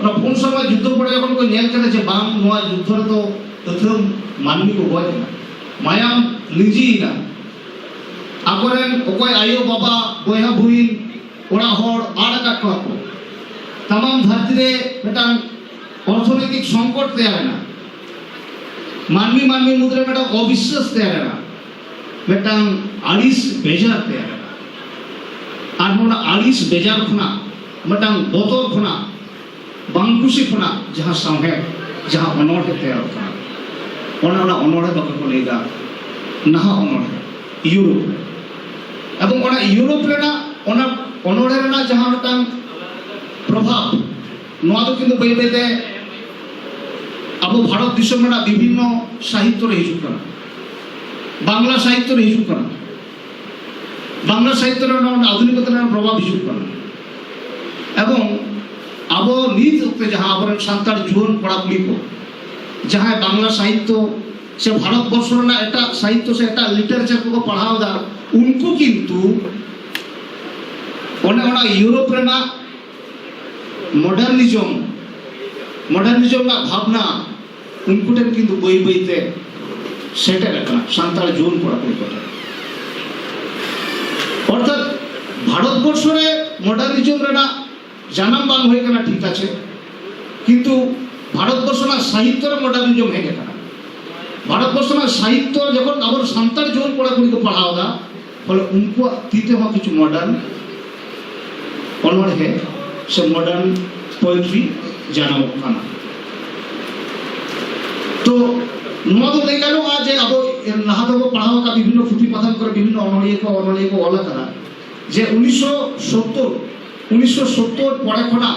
ᱚᱱᱟ ᱯᱩᱱ ᱥᱮᱨᱢᱟ ᱡᱩᱫᱽᱫᱷᱚ ᱯᱚᱨᱮ ᱡᱚᱠᱷᱚᱱ ᱠᱚ ᱧᱮᱞ ᱠᱮᱫᱟ ᱡᱮ ᱵᱟᱝ ᱱᱚᱣᱟ ᱡᱩᱫᱽᱫᱷᱚ ᱨᱮᱫᱚ ᱟᱹᱛᱷᱟᱹᱢ ᱢᱟᱹᱱᱢᱤ ᱠᱚ ᱜᱚᱡ ᱮᱱᱟ ᱢᱟᱭᱟᱢ ᱞᱤᱸᱡᱤᱭᱮᱱᱟ ᱟᱠᱚᱨᱮᱱ ᱚᱠᱚᱭ ᱟᱭᱳ ᱵᱟᱵᱟ ᱵᱚᱭᱦᱟ ᱵᱩᱦᱤᱱ ᱚᱲᱟᱜ ᱦᱚᱲ ᱟᱲ ᱟᱠᱟᱫ ᱠᱚᱣᱟ ᱠᱚ ᱛᱟᱢᱟᱢ ᱫᱷᱟᱹᱨᱛᱤ ᱨᱮ ᱢᱤᱫᱴᱟᱝ ᱚᱨᱛᱷᱚᱱᱳᱭᱛᱤᱠ ᱥᱚᱝᱠᱚᱴ ᱛᱮᱭᱟᱨᱮᱱᱟ ᱢᱟᱹᱱᱢᱤ ᱢᱟᱹᱱᱢᱤ ᱢᱩᱫᱽᱨᱮ ᱢᱤᱫᱴᱟᱝ ᱚᱵᱤᱥᱥᱟᱥ ᱛᱮᱭᱟᱨᱮᱱᱟ ᱢᱤᱫᱴᱟᱝ ᱟᱹᱲᱤᱥ ᱵᱮᱡᱟᱨ ᱛᱮᱭᱟᱨ ᱮᱱᱟ ᱟᱨ ᱱᱚᱣᱟ ᱟᱹᱲᱤᱥ ᱵᱮᱡᱟᱨ ᱠᱷᱚᱱᱟᱜ ᱢᱤᱫᱴᱟᱝ ᱵᱚᱛᱚᱨ ᱠᱷᱚᱱᱟᱜ ᱵᱟᱝ ᱠᱩᱥᱤ ᱠᱷᱚᱱᱟᱜ ᱡᱟᱦᱟᱸ ᱥᱟᱶᱦᱮᱫ ᱡᱟᱦᱟᱸ ᱚᱱᱚᱬᱦᱮ ᱛᱮᱭᱟᱨᱚᱜ ᱠᱟᱱᱟ ᱚᱱᱟ ᱚᱱᱟ ᱚᱱᱚᱬᱦᱮ ᱵᱟᱠᱚ ᱠᱚ ᱞᱟᱹᱭᱫᱟ ᱱᱟᱦᱟᱜ ᱚᱱᱚᱬᱦᱮ ᱤᱭᱩᱨᱳᱯ ᱨᱮ ᱮᱵᱚᱝ ᱚᱱᱟ ᱤᱭᱩᱨᱳᱯ ᱨᱮᱱᱟᱜ ᱚᱱᱟ ᱚᱱᱚᱬᱦᱮ ᱨᱮᱱᱟᱜ ᱡᱟᱦᱟᱸ ᱢᱤᱫᱴᱟᱝ ᱯᱨᱚᱵᱷᱟᱵᱽ ᱱᱚᱣᱟ ᱫᱚ ᱠᱤᱱᱛᱩ ᱵᱟᱹᱭ ᱵᱟᱹᱭᱛᱮ ᱟᱵᱚ ᱵᱷᱟᱨᱚᱛ ᱫᱤᱥᱚᱢ ᱨᱮᱱᱟᱜ ᱵᱤᱵᱷᱤᱱᱱᱚ ᱥᱟᱦᱤᱛᱛᱚ ᱨᱮ ᱦᱤᱡᱩᱜ ᱠᱟᱱᱟ ᱵᱟᱝᱞᱟ ᱥᱟᱦᱤᱛᱛᱚ ᱨᱮ ᱦᱤᱡᱩᱜ ᱠᱟᱱᱟ ᱵᱟᱝᱞᱟ ᱥᱟᱦᱤᱛᱛᱚ ᱨᱮ ᱱᱚᱣᱟ ᱟধুনিকতা ᱨᱮᱱᱟᱜ ᱯᱨᱚᱵᱷᱟᱵᱽ ᱦᱤᱡᱩᱜ ᱠᱟᱱᱟ ᱮᱵᱚᱝ ᱟᱵᱚ ᱱᱤᱛ ᱚᱠᱛᱮ ᱡᱟᱦᱟᱸ ᱟᱵᱚᱨᱮᱱ ᱥᱟᱱᱛᱟᱲ ᱡᱩᱣᱟᱹᱱ ᱠᱚᱲᱟ ᱠᱩᱲᱤ ᱠᱚ ᱡᱟᱦᱟᱸᱭ ᱵᱟᱝᱞᱟ ᱥᱟᱦᱤᱛᱛᱚ ᱥᱮ ᱵᱷᱟᱨᱚᱛ ᱵᱚᱨᱥᱚ ᱨᱮᱱᱟᱜ ᱮᱴᱟᱜ ᱥᱟᱦᱤᱛᱛᱚ ᱥᱮ ᱮᱴᱟᱜ ᱞᱤᱴᱟᱨᱮᱪᱟᱨ ᱠᱚᱠᱚ ᱯᱟᱲᱦᱟᱣ ᱮᱫᱟ ᱩᱱᱠᱩ ᱠᱤᱱᱛᱩ ᱚᱱᱮ ᱚᱱᱟ ᱤᱭᱩᱨᱳᱯ ᱨᱮᱱᱟᱜ ᱢᱚᱰᱟᱨᱱᱤᱡᱚᱢ ᱢᱚᱰᱟᱨᱱᱤᱡᱚᱢ ᱨᱮᱱᱟᱜ ᱵᱷᱟᱵᱽᱱᱟ ᱩᱱᱠᱩ ᱴᱷᱮᱱ ᱠᱤᱱᱛᱩ ᱵᱟᱹᱭ ᱵᱟᱹᱭ ᱛᱮ ᱥᱮᱴᱮᱨ ᱟᱠᱟᱱᱟ ᱥᱟᱱᱛᱟᱲ ᱡᱩᱣᱟᱹᱱ ᱠᱚᱲᱟ ᱠᱩᱲᱤ ᱠᱚ ᱴᱷᱮᱱ ᱚᱨᱛᱷᱟᱛ ᱵᱷᱟᱨᱚᱛᱵᱚᱨᱥᱚ ᱨᱮ ᱢᱚᱰᱟᱨᱱᱤᱡᱚᱢ ᱨᱮᱱᱟᱜ ᱡᱟᱱᱟᱢ ᱵᱟᱝ ᱦᱩᱭ ᱟᱠᱟᱱᱟ ᱴᱷᱤᱠ ᱟᱪᱷᱮ ᱠᱤᱱᱛᱩ ᱵᱷᱟᱨᱚᱛᱵᱚᱨᱥᱚ ᱨᱮᱱᱟᱜ ᱥᱟᱦᱤᱛᱛᱚ ᱨᱮ ᱢᱚᱰᱟᱨᱱᱤᱡᱚᱢ ᱦᱮᱡ ᱟᱠᱟᱱᱟ ᱵᱷᱟᱨᱚᱛᱵᱚᱨᱥᱚ ᱨᱮᱱᱟᱜ ᱥᱟᱦᱤᱛᱛᱚ ᱡᱚᱠᱷᱚᱱ ᱟᱵᱚ ᱥᱟᱱᱛᱟᱲ ᱡᱩᱣᱟᱹᱱ ᱠᱚᱲᱟ ᱠᱩᱲᱤ ᱠᱚ ᱯᱟᱲᱦᱟᱣ ᱮᱫᱟ ᱯᱷᱚᱞᱮ ᱩᱱᱠᱩᱣᱟᱜ ᱛᱤ ᱛᱮᱦᱚᱸ ᱠᱤᱪᱷᱩ ᱢᱚᱰᱟᱨᱱ ᱚᱱᱚᱬᱦᱮ ᱥᱮ ᱢᱚᱰᱟᱨᱱ ᱯᱳᱭᱮᱴᱨᱤ ᱡᱟᱱᱟᱢᱚᱜ ᱠᱟᱱᱟ ᱛᱚ ᱱᱚᱣᱟ ᱫᱚ ᱞᱟᱹᱭ ᱜᱟᱱᱚᱜᱼᱟ ᱡᱮ ᱟᱵᱚ ᱞᱟᱦᱟ ᱫᱚᱵᱚ ᱯᱟᱲᱦᱟᱣ ᱟᱠᱟᱫ ᱵᱤᱵᱷᱤᱱᱱᱚ ᱯᱩᱛᱷᱤ ᱯᱟᱛᱷᱟᱢ ᱠᱚᱨᱮ ᱵᱤᱵᱷᱤᱱᱱᱚ ᱚᱱᱚᱬᱦᱤᱭᱟᱹ ᱠᱚ ᱚᱱᱚᱬᱦᱤᱭᱟᱹ ᱠᱚ ᱚᱞ ᱟᱠᱟᱫᱟ ᱡᱮ ᱩᱱᱤᱥᱥᱚ ᱥᱳᱛᱛᱳᱨ ᱩᱱᱤᱥᱥᱚ ᱥᱳᱛᱛᱳᱨ ᱯᱚᱨᱮ ᱠᱷᱚᱱᱟᱜ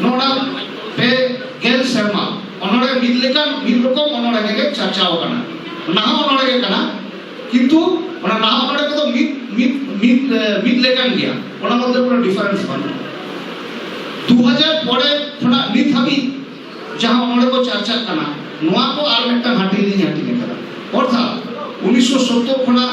ᱱᱚᱰᱟ ᱯᱮ ᱜᱮᱞ ᱥᱮᱨᱢᱟ ᱚᱱᱚᱲᱮ ᱢᱤᱫ ᱞᱮᱠᱟᱱ ᱢᱤᱫ ᱨᱚᱠᱚᱢ ᱚᱱᱚᱲᱮ ᱜᱮ ᱪᱟᱨᱪᱟᱣ ᱠᱟᱱᱟ ᱱᱟᱦᱟᱜ ᱚᱱᱚᱲᱮ ᱜᱮ ᱠᱟᱱᱟ ᱠᱤᱱᱛᱩ ᱚᱱᱟ ᱱᱟᱦᱟᱜ ᱚᱱᱚᱲᱮ ᱠᱚᱫᱚ ᱢᱤᱫ ᱢᱤᱫ ᱢᱤᱫ ᱢᱤᱫ ᱞᱮᱠᱟᱱ ᱜᱮᱭᱟ ᱚᱱᱟ ᱢᱚᱫᱽᱫᱷᱮ ᱠᱳᱱᱳ ᱰᱤᱯᱷᱟᱨᱮᱱᱥ ᱵᱟᱹᱱᱩᱜᱼᱟ ᱫᱩ ᱦᱟᱡᱟᱨ ᱯᱚᱨᱮ ᱠᱷᱚᱱᱟᱜ ᱱᱤᱛ ᱦᱟᱹᱵᱤᱡ ᱡᱟᱦᱟᱸ ᱚᱱᱚᱲᱮ ᱠᱚ ᱪᱟᱨᱪᱟᱜ ᱠᱟᱱᱟ ᱱᱚᱣᱟ ᱠᱚ ᱟᱨ ᱢᱤᱫᱴᱟᱝ ᱦᱟᱹᱴᱤᱧ ᱞᱤᱧ ᱦᱟᱹᱴᱤᱧ ᱟᱠᱟᱫᱟ ᱚᱨᱛᱷᱟᱛ ᱩᱱᱤᱥᱥᱚ ᱥᱳᱛᱛᱳᱨ ᱠᱷᱚᱱᱟᱜ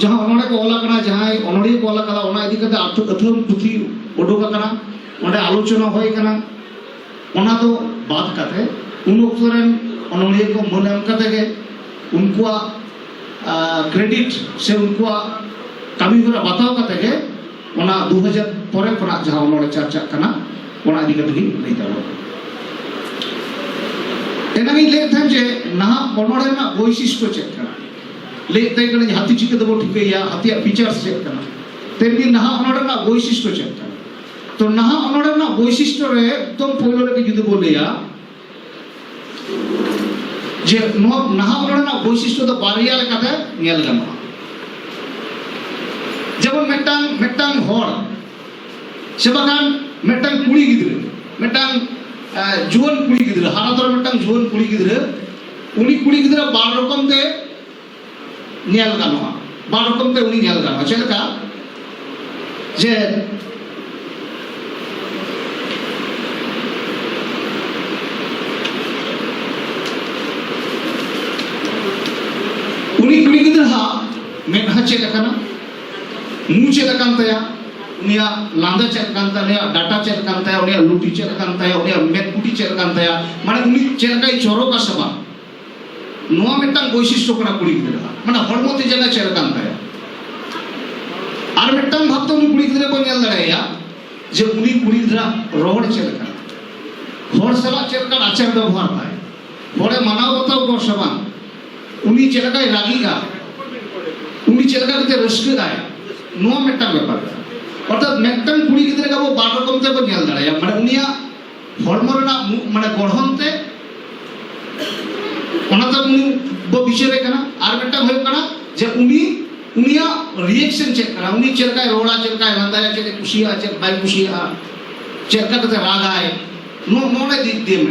ᱡᱟᱦᱟᱸ ᱚᱱᱚᱬᱮ ᱠᱚ ᱚᱞ ᱟᱠᱟᱱᱟ ᱡᱟᱦᱟᱸᱭ ᱚᱱᱚᱬᱤᱭᱟᱹ ᱠᱚ ᱚᱞ ᱟᱠᱟᱫᱟ ᱚᱱᱟ ᱤᱫᱤ ᱠᱟᱛᱮ ᱟᱹᱛᱷᱟᱹᱢ ᱯᱩᱛᱷᱤ ᱩᱰᱩᱠ ᱟᱠᱟᱱᱟ ᱚᱸᱰᱮ ᱟᱞᱳᱪᱚᱱᱟ ᱦᱩᱭ ᱟᱠᱟᱱᱟ ᱚᱱᱟ ᱫᱚ ᱵᱟᱫ ᱠᱟᱛᱮ ᱩᱱ ᱚᱠᱛᱚ ᱨᱮᱱ ᱚᱱᱚᱬᱤᱭᱟᱹ ᱠᱚ ᱢᱟᱹᱱ ᱮᱢ ᱠᱟᱛᱮ ᱜᱮ ᱩᱱᱠᱩᱣᱟᱜ ᱠᱨᱮᱰᱤᱴ ᱥᱮ ᱩᱱᱠᱩᱣᱟᱜ ᱠᱟᱹᱢᱤ ᱦᱚᱨᱟ ᱵᱟᱛᱟᱣ ᱠᱟᱛᱮ ᱜᱮ ᱚᱱᱟ ᱫᱩ ᱦᱟᱡᱟᱨ ᱯᱚᱨᱮ ᱠᱷᱚᱱᱟᱜ ᱡᱟᱦᱟᱸ ᱚᱱᱚᱬᱮ ᱪᱟᱨᱪᱟᱜ ᱠᱟᱱᱟ ᱚᱱᱟ ᱤᱫᱤ ᱠᱟᱛᱮ ᱜᱤᱧ ᱞᱟᱹᱭ ᱫᱟᱲᱮᱭᱟᱜᱼᱟ ᱮᱱᱟᱝ ᱤᱧ ᱞᱟᱹᱭᱮᱫ ᱛᱟᱦᱮᱸᱫ ᱡᱮ ᱱᱟᱦᱟᱜ ᱚᱱᱚᱬᱮ ᱨᱮᱱᱟᱜ ᱵᱳᱭᱥᱤᱥᱴᱚ ᱪᱮᱫ ᱠᱟᱱᱟ ᱞᱟᱹᱭ ᱛᱮ ᱠᱟᱱᱟ ᱦᱟᱹᱛᱤ ᱪᱤᱠᱟᱹ ᱛᱮᱵᱚ ᱴᱷᱤᱠᱟᱹᱭᱟ ᱦᱟᱹᱛᱤᱭᱟᱜ ᱯᱷᱤᱪᱟᱨᱥ ᱪᱮᱫ ᱠᱟᱱᱟ ᱛᱮᱨᱵᱤ ᱱᱟᱦᱟᱜ ᱚᱱᱚᱲ ᱨᱮᱱᱟᱜ ᱵᱳᱭᱥᱤᱥᱴᱚ ᱪᱮᱫ ᱠᱟᱱᱟ ᱛᱚ ᱱᱟᱦᱟᱜ ᱚᱱᱚᱲ ᱨᱮᱱᱟᱜ ᱵᱳᱭᱥᱤᱥᱴᱚ ᱨᱮ ᱮᱠᱫᱚᱢ ᱯᱳᱭᱞᱳ ᱨᱮᱜᱮ ᱡᱩᱫᱤ ᱵᱚ ᱞᱟᱹᱭᱟ ᱡᱮ ᱱᱚᱣᱟ ᱱᱟᱦᱟᱜ ᱚᱱᱚᱲ ᱨᱮᱱᱟᱜ ᱵᱳᱭᱥᱤᱥᱴᱚ ᱫᱚ ᱵᱟᱨᱭᱟ ᱞᱮᱠᱟᱛᱮ ᱧᱮᱞ ᱜᱟᱱᱚᱜᱼᱟ ᱡᱮᱢᱚᱱ ᱢᱤᱫᱴᱟᱝ ᱢᱤᱫᱴᱟᱝ ᱦᱚᱲ ᱥᱮ ᱵᱟᱝᱠᱷᱟᱱ ᱢᱤᱫᱴᱟᱝ ᱠᱩᱲᱤ ᱜᱤᱫᱽᱨᱟᱹ ᱢᱤᱫᱴᱟᱝ ᱡᱩᱣᱟᱹᱱ ᱠᱩᱲᱤ ᱜᱤᱫᱽᱨᱟᱹ ᱦᱟᱨᱟ ᱛᱚᱨᱟ ᱢᱤᱫᱴᱟᱝ ᱡᱩᱣᱟᱹᱱ ᱠᱩᱲᱤ ᱜᱤᱫᱽᱨᱟᱹ ᱩᱱᱤ ᱠᱩᱲᱤ ᱜᱤᱫᱽᱨᱟᱹ ᱵᱟᱨ ᱨᱚᱠᱚᱢ ᱛᱮ ᱧᱮᱞ ᱜᱟᱱᱚᱜᱼᱟ ᱵᱟᱨ ᱨᱚᱠᱚᱢ ᱛᱮ ᱩᱱᱤ ᱧᱮᱞ ᱜᱟᱱᱚᱜᱼᱟ ᱪᱮᱫ ᱞᱮᱠᱟ ᱡᱮ ᱩᱱᱤ ᱠᱩᱲᱤ ᱜᱤᱫᱽᱨᱟᱹ ᱦᱟᱜ ᱢᱮᱫᱦᱟ ᱪᱮᱫ ᱞᱮᱠᱟᱱᱟ ᱢᱩ ᱪᱮᱫ ᱟᱠᱟᱱ ᱛᱟᱭᱟ ᱩᱱᱤᱭᱟᱜ ᱞᱟᱸᱫᱟ ᱪᱮᱫ ᱟᱠᱟᱱ ᱛᱟᱭᱟ ᱩᱱᱤᱭᱟᱜ ᱰᱟᱴᱟ ᱪᱮᱫ ᱟᱠᱟᱱ ᱛᱟᱭᱟ ᱩᱱᱤᱭᱟᱜ ᱞᱩᱴᱤ ᱪᱮᱫ ᱟᱠᱟᱱ ᱛᱟᱭᱟ ᱩᱱᱤᱭᱟᱜ ᱢᱮᱫ ᱠᱩᱴᱤ ᱪᱮᱫ ᱟᱠᱟᱱ ᱛᱟᱭᱟ ᱢᱟᱱᱮ ᱩᱱᱤ ᱪᱮᱫ ᱞᱮᱠᱟᱭ ᱪᱚᱨᱚᱠᱟ ᱥᱮ ᱵᱟᱝ ᱱᱚᱣᱟ ᱢᱤᱫᱴᱟᱝ ᱵᱳᱭᱥᱤᱥᱴᱚ ᱠᱟᱱᱟ ᱠᱩᱲᱤ ᱜᱤᱫᱽᱨᱟᱹ ᱢᱟᱱᱮ ᱦᱚᱲᱢᱚ ᱛᱮ ᱡᱟᱭᱜᱟ ᱪᱮᱫ ᱟᱠᱟᱱ ᱛᱟᱭᱟ ᱟᱨ ᱢᱤᱫᱴᱟᱝ ᱵᱷᱟᱵᱽ ᱛᱮ ᱩᱱᱤ ᱠᱩᱲᱤ ᱜᱤᱫᱽᱨᱟᱹ ᱠᱚ ᱧᱮᱞ ᱫᱟᱲᱮᱭᱟᱭᱟ ᱡᱮ ᱩᱱᱤ ᱠᱩᱲᱤ ᱜᱤᱫᱽᱨᱟᱹ ᱨᱚᱲ ᱪᱮᱫ ᱞᱮᱠᱟ ᱦᱚᱲ ᱥᱟᱞᱟᱜ ᱪᱮᱫ ᱞᱮᱠᱟᱱ ᱟᱪᱟᱨ ᱵᱮᱵᱚᱦᱟᱨ ᱛᱟᱭ ᱦᱚᱲᱮ ᱢᱟᱱᱟᱣ ᱵᱟᱛᱟᱣ ᱠᱚᱣᱟ ᱥᱮ ᱵᱟᱝ ᱩᱱᱤ ᱪᱮᱫ ᱞᱮᱠᱟᱭ ᱨᱟᱹᱜᱤᱜᱼᱟ ᱩᱱᱤ ᱪᱮᱫ ᱞᱮᱠᱟ ᱠᱟᱛᱮ ᱨᱟᱹᱥᱠᱟᱹᱜᱼᱟᱭ ᱱᱚᱣᱟ ᱢᱤᱫᱴᱟᱝ ᱵᱮᱯᱟᱨ ᱚᱨᱛᱷᱟᱛ ᱢᱤᱫᱴᱟᱝ ᱠᱩᱲᱤ ᱜᱤᱫᱽᱨᱟᱹ ᱜᱮ ᱟᱵᱚ ᱵᱟᱨ ᱨᱚᱠᱚᱢ ᱛᱮᱵᱚ ᱧᱮᱞ ᱫᱟᱲᱮᱭᱟ ᱢᱟᱱᱮ ᱩᱱᱤᱭᱟᱜ ᱦᱚᱲᱢᱚ ᱨᱮᱱᱟᱜ ᱢᱟᱱᱮ ᱜᱚᱲᱦᱚᱱ ᱛᱮ ᱚᱱᱟ ᱫᱚ ᱩᱱᱤ ᱵᱚ ᱵᱤᱪᱟᱹᱨᱮ ᱠᱟᱱᱟ ᱟᱨ ᱢᱤᱫᱴᱟᱝ ᱦᱩᱭᱩᱜ ᱠᱟᱱᱟ ᱡᱮ ᱩᱱᱤ ᱩᱱᱤᱭᱟᱜ ᱨᱤᱭᱮᱠᱥᱚᱱ ᱪᱮᱫ ᱠᱟᱱᱟ ᱩᱱᱤ ᱪᱮᱫ ᱞᱮᱠᱟᱭ ᱨᱚᱲᱟ ᱪᱮᱫ ᱞᱮᱠᱟᱭ ᱞᱟᱸᱫᱟᱭᱟ ᱪᱮᱫ ᱮ ᱠᱩᱥᱤᱭᱟᱜᱼᱟ ᱪᱮᱫ ᱵᱟᱭ ᱠᱩᱥᱤᱭᱟᱜᱼᱟ ᱪᱮᱫ ᱞᱮᱠᱟ ᱠᱟᱛᱮ ᱨᱟᱜᱟᱭ ᱱᱚᱜᱼᱚ ᱱᱚᱰᱮ ᱫᱤᱠ ᱫᱤᱭᱮ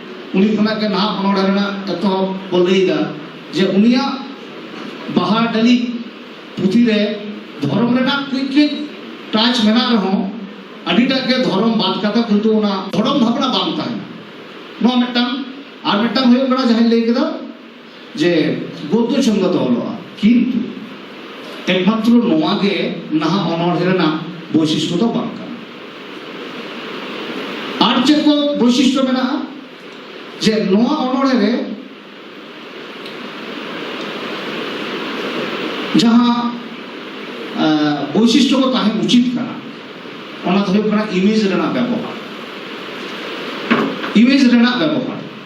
ᱩᱱᱤ ᱠᱷᱚᱱᱟᱜ ᱜᱮ ᱱᱟᱦᱟᱜ ᱚᱱᱚᱲᱟ ᱨᱮᱱᱟᱜ ᱮᱛᱚᱦᱚᱵ ᱵᱚ ᱞᱟᱹᱭᱫᱟ ᱡᱮ ᱩᱱᱤᱭᱟᱜ ᱵᱟᱦᱟ ᱰᱟᱹᱞᱤ ᱯᱩᱛᱷᱤ ᱨᱮ ᱫᱷᱚᱨᱚᱢ ᱨᱮᱱᱟᱜ ᱠᱟᱹᱡ ᱠᱟᱹᱡ ᱴᱟᱪ ᱢᱮᱱᱟᱜ ᱨᱮᱦᱚᱸ ᱟᱹᱰᱤᱴᱟᱜ ᱜᱮ ᱫᱷᱚᱨᱚᱢ ᱵᱟᱫ ᱠᱟᱛᱮ ᱠᱤᱱᱛᱩ ᱚᱱᱟ ᱫᱷᱚᱨᱚᱢ ᱵᱷᱟᱵᱽᱱᱟ ᱵᱟᱝ ᱛᱟᱦᱮᱱᱟ ᱱᱚᱣᱟ ᱢᱤᱫᱴᱟᱝ ᱟᱨ ᱢᱤᱫᱴᱟᱝ ᱦᱩᱭᱩᱜ ᱠᱟᱱᱟ ᱡᱟᱦᱟᱸᱧ ᱞᱟᱹᱭ ᱠᱮᱫᱟ ᱡᱮ ᱜᱚᱫᱽᱫᱚ ᱪᱷᱚᱱᱫᱚ ᱛᱮ ᱚᱞᱚᱜᱼᱟ ᱠᱤᱱᱛᱩ ᱮᱠᱢᱟᱛᱨᱚ ᱱᱚᱣᱟ ᱜᱮ ᱱᱟᱦᱟᱜ ᱚᱱᱚᱬᱦᱮ ᱨᱮᱱᱟᱜ ᱵᱳᱭᱥᱤᱥᱴᱚ ᱫᱚ ᱵᱟᱝ ᱠᱟᱱᱟ ᱟᱨ ᱪᱮᱫ ᱠᱚ ᱵᱳᱭᱥᱤᱥᱴᱚ ᱢᱮᱱᱟᱜᱼᱟ ᱡᱮ ᱱᱚᱣᱟ ᱚᱱᱚᱬᱦᱮ ᱨᱮ ᱡᱟᱦᱟᱸ ᱵᱳᱭᱥᱤᱥᱴᱚ ᱠᱚ ᱛᱟᱦᱮᱸ ᱩᱪᱤᱛ ᱠᱟᱱᱟ ᱚᱱᱟ ᱫᱚ ᱦᱩᱭᱩᱜ ᱠᱟᱱᱟ ᱤᱢᱮᱡᱽ ᱨᱮᱱᱟᱜ ᱵᱮᱵᱚᱦᱟᱨ ᱤᱢᱮᱡᱽ ᱨᱮᱱᱟᱜ ᱵᱮᱵᱚᱦᱟᱨ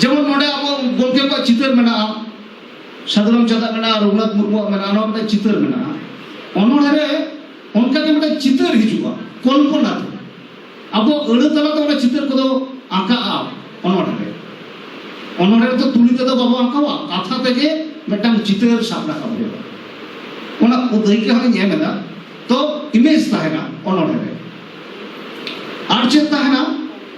ᱡᱮᱢᱚᱱ ᱱᱚᱰᱮ ᱟᱵᱚ ᱜᱚᱢᱠᱮ ᱠᱚᱣᱟᱜ ᱪᱤᱛᱟᱹᱨ ᱢᱮᱱᱟᱜᱼᱟ ᱥᱟᱹᱫᱷᱩ ᱨᱟᱢᱪᱟᱸᱫᱟᱜ ᱢᱮᱱᱟᱜᱼᱟ ᱨᱚᱜᱷᱩᱱᱟᱛᱷ ᱢᱩᱨᱢᱩᱣᱟᱜ ᱢᱮᱱᱟᱜᱼᱟ ᱱᱚᱣᱟ ᱢᱤᱫᱴᱟᱝ ᱪᱤᱛᱟᱹᱨ ᱢᱮᱱᱟᱜᱼᱟ ᱚᱱᱚᱬᱦᱮ ᱨᱮ ᱚᱱᱠᱟ ᱜᱮ ᱢᱤᱫᱴᱟᱝ ᱪᱤᱛᱟᱹᱨ ᱦᱤᱡᱩᱜᱼᱟ ᱠᱚᱞᱯᱚᱱᱟ ᱛᱮ ᱟᱵᱚ ᱟᱹᱲᱟᱹ ᱛᱟᱞᱟᱛᱮ ᱚᱱᱟ ᱪᱤᱛᱟᱹᱨ ᱠᱚᱫᱚ ᱟᱸᱠᱟᱜᱼᱟ ᱚᱱᱚᱬᱦᱮ ᱨᱮ ᱚᱱᱚᱬᱦᱮ ᱨᱮᱫᱚ ᱛᱩᱞᱤ ᱛᱮᱫᱚ ᱵᱟᱵᱚ ᱟᱸᱠᱟᱣᱟ ᱠᱟᱛᱷᱟ ᱛᱮᱜᱮ ᱢᱤᱫᱴᱟᱝ ᱪᱤᱛᱟᱹᱨ ᱥᱟᱵ ᱨᱟᱠᱟᱵ ᱦᱩᱭᱩᱜᱼᱟ ᱚᱱᱟ ᱫᱟᱹᱭᱠᱟᱹ ᱦᱚᱸᱧ ᱮᱢ ᱮᱫᱟ ᱛᱚ ᱤᱢᱮᱡᱽ ᱛᱟᱦᱮᱱᱟ ᱚᱱᱚᱬᱦᱮ ᱨᱮ ᱟᱨ ᱪᱮᱫ ᱛᱟᱦᱮᱱᱟ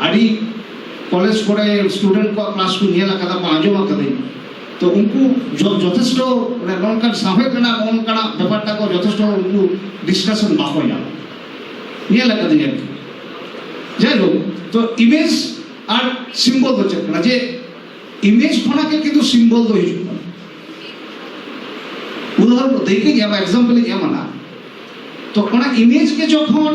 ᱟᱹᱰᱤ ᱠᱚᱞᱮᱡᱽ ᱠᱚᱨᱮ ᱥᱴᱩᱰᱮᱱᱴ ᱠᱚᱣᱟᱜ ᱠᱞᱟᱥ ᱠᱚ ᱧᱮᱞ ᱟᱠᱟᱫᱟ ᱵᱟᱝ ᱟᱸᱡᱚᱢ ᱟᱠᱟᱫᱟᱹᱧ ᱛᱚ ᱩᱱᱠᱩ ᱡᱚᱛᱷᱮᱥᱴᱚ ᱢᱟᱱᱮ ᱱᱚᱝᱠᱟᱱ ᱥᱟᱶᱦᱮᱫ ᱨᱮᱱᱟᱜ ᱱᱚᱝᱠᱟᱱᱟᱜ ᱵᱮᱯᱟᱨᱴᱟ ᱠᱚ ᱡᱚᱛᱷᱮᱥᱴᱚ ᱩᱱᱠᱩ ᱰᱤᱥᱠᱟᱥᱚᱱ ᱵᱟᱠᱚ ᱧᱟᱢ ᱧᱮᱞ ᱟᱠᱟᱫᱟᱹᱧ ᱟᱨᱠᱤ ᱡᱟᱭᱦᱳᱠ ᱛᱚ ᱤᱢᱮᱡᱽ ᱟᱨ ᱥᱤᱢᱵᱚᱞ ᱫᱚ ᱪᱮᱫ ᱠᱟᱱᱟ ᱡᱮ ᱤᱢᱮᱡᱽ ᱠᱷᱚᱱᱟᱜ ᱜᱮ ᱠᱤᱱᱛᱩ ᱥᱤᱢᱵᱚᱞ ᱫᱚ ᱦᱤᱡᱩᱜ ᱠᱟᱱᱟ ᱩᱫᱟᱦᱚᱨᱚᱱ ᱫᱟᱹᱭᱠᱟᱹᱧ ᱮᱢᱟ ᱮᱠᱡᱟᱢᱯᱚᱞᱤᱧ ᱮᱢᱟ ᱛᱚ ᱚᱱᱟ ᱤᱢᱮᱡᱽ ᱜᱮ ᱡᱚᱠᱷᱚᱱ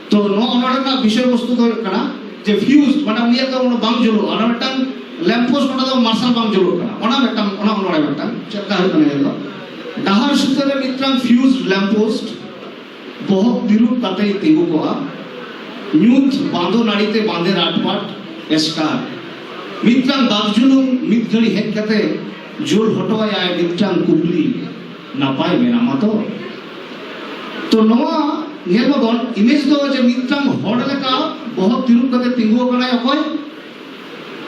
ᱛᱚ ᱱᱚᱣᱟ ᱚᱱᱟ ᱨᱮᱱᱟᱜ ᱵᱤᱥᱚᱭ ᱵᱚᱥᱛᱩ ᱫᱚ ᱦᱩᱭᱩᱜ ᱠᱟᱱᱟ ᱡᱮ ᱯᱷᱤᱭᱩᱡᱽ ᱢᱟᱱᱮ ᱩᱱᱤᱭᱟᱜ ᱫᱚ ᱚᱱᱟ ᱵᱟᱝ ᱡᱩᱞᱩᱜᱼᱟ ᱚᱱᱟ ᱢᱤᱫᱴᱟᱝ ᱞᱮᱢᱯ ᱯᱳᱥᱴ ᱚᱱᱟ ᱫᱚ ᱢᱟᱨᱥᱟᱞ ᱵᱟᱝ ᱡᱩᱞᱩᱜ ᱠᱟᱱᱟ ᱚᱱᱟ ᱢᱤᱫᱴᱟᱝ ᱚᱱᱟ ᱚᱱᱚᱲᱮ ᱢᱤᱫᱴᱟᱝ ᱪᱮᱫ ᱞᱮᱠᱟ ᱦᱩᱭᱩᱜ ᱠᱟᱱᱟ ᱤᱭᱟᱹ ᱫᱚ ᱰᱟᱦᱟᱨ ᱥᱩᱛᱟᱹ ᱨᱮ ᱢᱤᱫᱴᱟᱝ ᱯᱷᱤᱭᱩᱡᱽ ᱞᱮᱢᱯ ᱯᱳᱥᱴ ᱵᱚᱦᱚᱜ ᱛᱤᱨᱩᱵ ᱠᱟᱛᱮ ᱛᱤᱸᱜᱩ ᱠᱚᱜᱼᱟ ᱧᱩᱛ ᱵᱟᱸᱫᱚ ᱱᱟᱹᱲᱤᱛᱮ ᱵᱟᱸᱫᱮ ᱨᱟᱴᱯᱟᱴ ᱮᱥᱠᱟᱨ ᱢᱤᱫᱴᱟᱝ ᱵᱟᱜᱡᱩᱞᱩᱝ ᱢᱤᱫ ᱜᱷᱟᱹᱲᱤ ᱦᱮᱡ ᱠᱟᱛᱮ ᱡᱳᱨ ᱦᱚᱴᱚᱣᱟᱭᱟᱭ ᱢᱤᱫᱴᱟᱝ ᱠᱩᱠᱞᱤ ᱱᱟᱯᱟᱭ ᱢᱮᱱᱟᱢᱟ ᱛᱚ ᱛᱚ ᱱᱚᱣᱟ ᱧᱮᱞ ᱵᱚᱱ ᱤᱢᱮᱡᱽ ᱫᱚ ᱡᱮ ᱢᱤᱫᱴᱟᱝ ᱦᱚᱲ ᱞᱮᱠᱟ ᱵᱚᱦᱚᱜ ᱛᱤᱨᱩᱵ ᱠᱟᱛᱮ ᱛᱤᱸᱜᱩ ᱟᱠᱟᱱᱟᱭ ᱚᱠᱚᱭ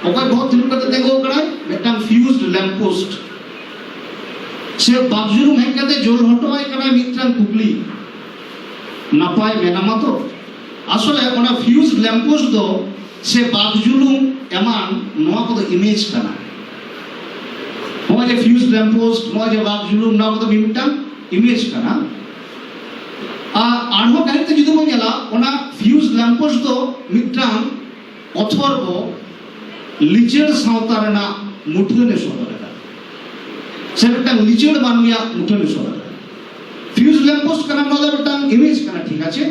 ᱚᱠᱚᱭ ᱵᱚᱦᱚᱜ ᱛᱤᱨᱩᱵ ᱠᱟᱛᱮ ᱛᱤᱸᱜᱩ ᱟᱠᱟᱱᱟᱭ ᱢᱤᱫᱴᱟᱝ ᱯᱷᱤᱭᱩᱡᱽ ᱞᱮᱢᱯ ᱯᱳᱥᱴ ᱥᱮ ᱵᱟᱵᱡᱩᱨᱩᱢ ᱦᱮᱡ ᱠᱟᱛᱮ ᱡᱳᱨ ᱦᱚᱴᱚ ᱟᱭ ᱠᱟᱱᱟᱭ ᱢᱤᱫᱴᱟᱝ ᱠᱩᱠᱞᱤ ᱱᱟᱯᱟᱭ ᱢᱮᱱᱟᱢᱟ ᱛᱚ ᱟᱥᱚᱞᱮ ᱚᱱᱟ ᱯᱷᱤᱭᱩᱡᱽ ᱞᱮᱢᱯ ᱯᱳᱥᱴ ᱫᱚ ᱥᱮ ᱵᱟᱵᱡᱩᱞᱩᱢ ᱮᱢᱟᱱ ᱱᱚᱣᱟ ᱠᱚᱫᱚ ᱤᱢᱮᱡᱽ ᱠᱟᱱᱟ ᱱᱚᱜᱼᱚᱭ ᱡᱮ ᱯᱷᱤᱭᱩᱡᱽ ᱞᱮᱢᱯ ᱯᱳᱥᱴ ᱱᱚᱜᱼᱚᱭ ᱡᱮ ᱵᱟᱯ ᱡᱩᱞᱩᱢ ᱱᱚᱣᱟ ᱠᱚᱫᱚ ᱢᱤᱫᱴᱟᱝ ᱤᱢᱮᱡᱽ ᱠᱟᱱᱟ ᱟᱨ ᱟᱨᱦᱚᱸ ᱠᱟᱹᱦᱤ ᱛᱮ ᱡᱩᱫᱤ ᱵᱚᱱ ᱧᱮᱞᱟ ᱚᱱᱟ ᱯᱷᱤᱭᱩᱡᱽ ᱞᱮᱢᱯ ᱯᱳᱥᱴ ᱫᱚ ᱢᱤᱫᱴᱟᱝ ᱚᱛᱷᱚᱨ ᱠᱚ ᱞᱤᱪᱟᱹᱲ ᱥᱟᱶᱛᱟ ᱨᱮᱱᱟᱜ ᱢᱩᱴᱷᱟᱹᱱ ᱮ ᱥᱚᱫᱚᱨ ᱮᱫᱟ ᱥᱮ ᱢᱤᱫᱴᱟᱝ ᱞᱤᱪᱟᱹᱲ ᱢᱟᱹᱱᱢᱤᱭᱟᱜ ᱢᱩᱴᱷᱟᱹᱱ ᱮ ᱥᱚᱫᱚᱨ ᱮᱫᱟ ᱯᱷᱤᱭᱩᱡᱽ ᱞᱮᱢᱯ ᱯᱳᱥᱴ ᱠᱟᱱᱟ ᱱᱚᱣᱟ ᱫᱚ ᱢᱤᱫᱴᱟᱝ ᱤᱢᱮᱡᱽ ᱠᱟᱱᱟ ᱴᱷᱤᱠ ᱟᱪᱷᱮ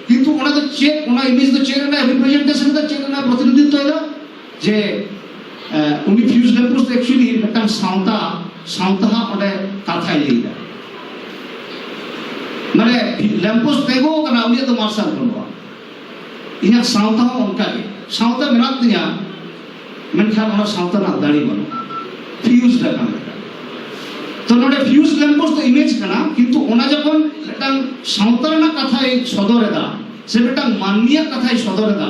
ᱠᱤᱱᱛᱩ ᱚᱱᱟ ᱫᱚ ᱪᱮᱫ ᱚᱱᱟ ᱤᱢᱮᱡᱽ ᱫᱚ ᱪᱮᱫ ᱨᱮᱱᱟᱜ ᱨᱤᱯᱨᱮᱡᱮᱱᱴᱮᱥᱚᱱ ᱮᱫᱟ ᱪᱮᱫ ᱨᱮᱱᱟᱜ ᱯᱨᱚᱛᱤᱱᱤᱫᱷᱤᱛᱛᱚ ᱮᱫᱟ ᱡᱮ ᱩᱱᱤ ᱯᱷᱤᱭᱩᱡᱽ ᱞᱮᱢᱯᱩᱥ ᱫᱚ ᱮᱠᱪᱩᱭᱮᱞᱤ ᱢᱤᱫᱴᱟᱝ ᱥᱟᱶᱛᱟ ᱥᱟᱶᱛᱟ ᱦᱟᱸᱜ ᱚᱸᱰᱮ ᱠᱟᱛᱷᱟᱭ ᱞᱟᱹᱭᱫᱟ ᱢᱟᱱᱮ ᱞᱮᱢᱯᱩᱥ ᱛᱮᱜᱳ ᱠᱟᱱᱟ ᱩᱱᱤᱭᱟᱜ ᱫᱚ ᱢᱟᱨᱥᱟᱞ ᱵᱟᱹᱱᱩᱜᱼᱟ ᱤᱧᱟᱹᱜ ᱥᱟᱶᱛᱟ ᱦᱚᱸ ᱚᱱᱠᱟ ᱜᱮ ᱥᱟᱶᱛᱟ ᱢᱮᱱᱟᱜ ᱛᱤᱧᱟ ᱢᱮᱱᱠᱷᱟᱱ ᱚᱱᱟ ᱥᱟᱶᱛᱟ ᱨᱮᱱᱟᱜ ᱫᱟᱲᱮ ᱵᱟᱹᱱᱩᱜᱼᱟ ᱯᱷᱤᱭᱩᱡᱽ ᱞᱮᱠᱟᱱ ᱛᱚ ᱱᱚᱰᱮ ᱯᱷᱤᱭᱩᱡᱽ ᱞᱮᱢᱯᱩᱥ ᱫᱚ ᱤᱢᱮᱡᱽ ᱠᱟᱱᱟ ᱠᱤᱱᱛᱩ ᱚᱱᱟ ᱡᱚᱠᱷᱚᱱ ᱢᱤᱫᱴᱟᱝ ᱥᱟᱶᱛᱟ ᱨᱮᱱᱟᱜ ᱠᱟᱛᱷᱟᱭ ᱥᱚᱫᱚᱨᱮᱫᱟ ᱥᱮ ᱢᱤᱫᱴᱟᱝ ᱢᱟᱹᱱᱢᱤᱭᱟᱜ ᱠᱟᱛᱷᱟᱭ ᱥᱚᱫᱚᱨᱮᱫᱟ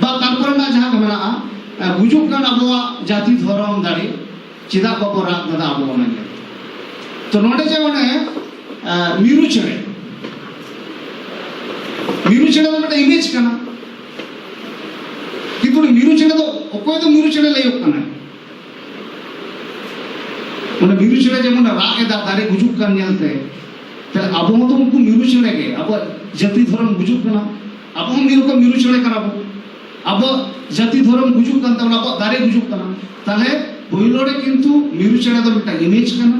ᱵᱟ ᱛᱟᱨᱯᱚᱨ ᱨᱮᱱᱟᱜ ᱡᱟᱦᱟᱸ ᱠᱚ ᱢᱮᱱᱟᱜᱼᱟ ᱜᱩᱡᱩᱜ ᱠᱟᱱ ᱟᱵᱚᱣᱟᱜ ᱡᱟᱹᱛᱤ ᱫᱷᱚᱨᱚᱢ ᱫᱟᱲᱮ ᱪᱮᱫᱟᱜ ᱵᱟᱵᱚ ᱨᱟᱜ ᱠᱟᱫᱟ ᱟᱵᱚ ᱚᱱᱟ ᱧᱮᱞ ᱛᱚ ᱱᱚᱰᱮ ᱡᱮ ᱚᱱᱮ ᱢᱤᱨᱩ ᱪᱮᱬᱮ ᱢᱤᱨᱩ ᱪᱮᱬᱮ ᱫᱚ ᱢᱤᱫᱴᱮᱱ ᱤᱢᱮᱡᱽ ᱠᱟᱱᱟ ᱠᱤᱱᱛᱩ ᱢᱤᱨᱩ ᱪᱮᱬᱮ ᱫᱚ ᱚᱠᱚᱭ ᱫᱚ ᱢᱤᱨᱩ ᱪᱮᱬᱮ ᱞᱟᱹᱭᱚᱜ ᱠᱟᱱᱟ ᱚᱱᱟ ᱢᱤᱨᱩ ᱪᱮᱬᱮ ᱡᱮᱢᱚᱱ ᱨᱟᱜ ᱮᱫᱟ ᱫᱟᱨᱮ ᱜᱩᱡᱩᱜ ᱠᱟᱱ ᱧᱮᱞᱛᱮ ᱛᱟᱦᱞᱮ ᱟᱵᱚ ᱦᱚᱸᱛᱚ ᱩᱱᱠᱩ ᱢᱤᱨᱩ ᱪᱮᱬᱮ ᱜᱮ ᱟᱵᱚᱣᱟᱜ ᱡᱟᱹᱛᱤ ᱫᱷᱚᱨᱚᱢ ᱜᱩᱡᱩᱜ ᱠᱟᱱᱟ ᱟᱵᱚ ᱦᱚᱸ ᱢᱤᱫ ᱨᱚᱠᱚᱢ ᱢᱤᱨᱩ ᱪᱮᱬᱮ ᱠᱟᱱᱟ ᱵᱚ ᱟᱵᱚ ᱡᱟᱹᱛᱤ ᱫᱷᱚᱨᱚᱢ ᱜᱩᱡᱩᱜ ᱠᱟᱱ ᱛᱟᱵᱚᱱᱟ ᱟᱵᱚ ᱫᱟᱨᱮ ᱜᱩᱡᱩᱜ ᱠᱟᱱᱟ ᱛᱟᱦᱞᱮ ᱯᱳᱭᱞᱳ ᱨᱮ ᱠᱤᱱᱛᱩ ᱢᱤᱨᱩ ᱪᱮᱬᱮ ᱫᱚ ᱢᱤᱫᱴᱟᱝ ᱤᱢᱮᱡᱽ ᱠᱟᱱᱟ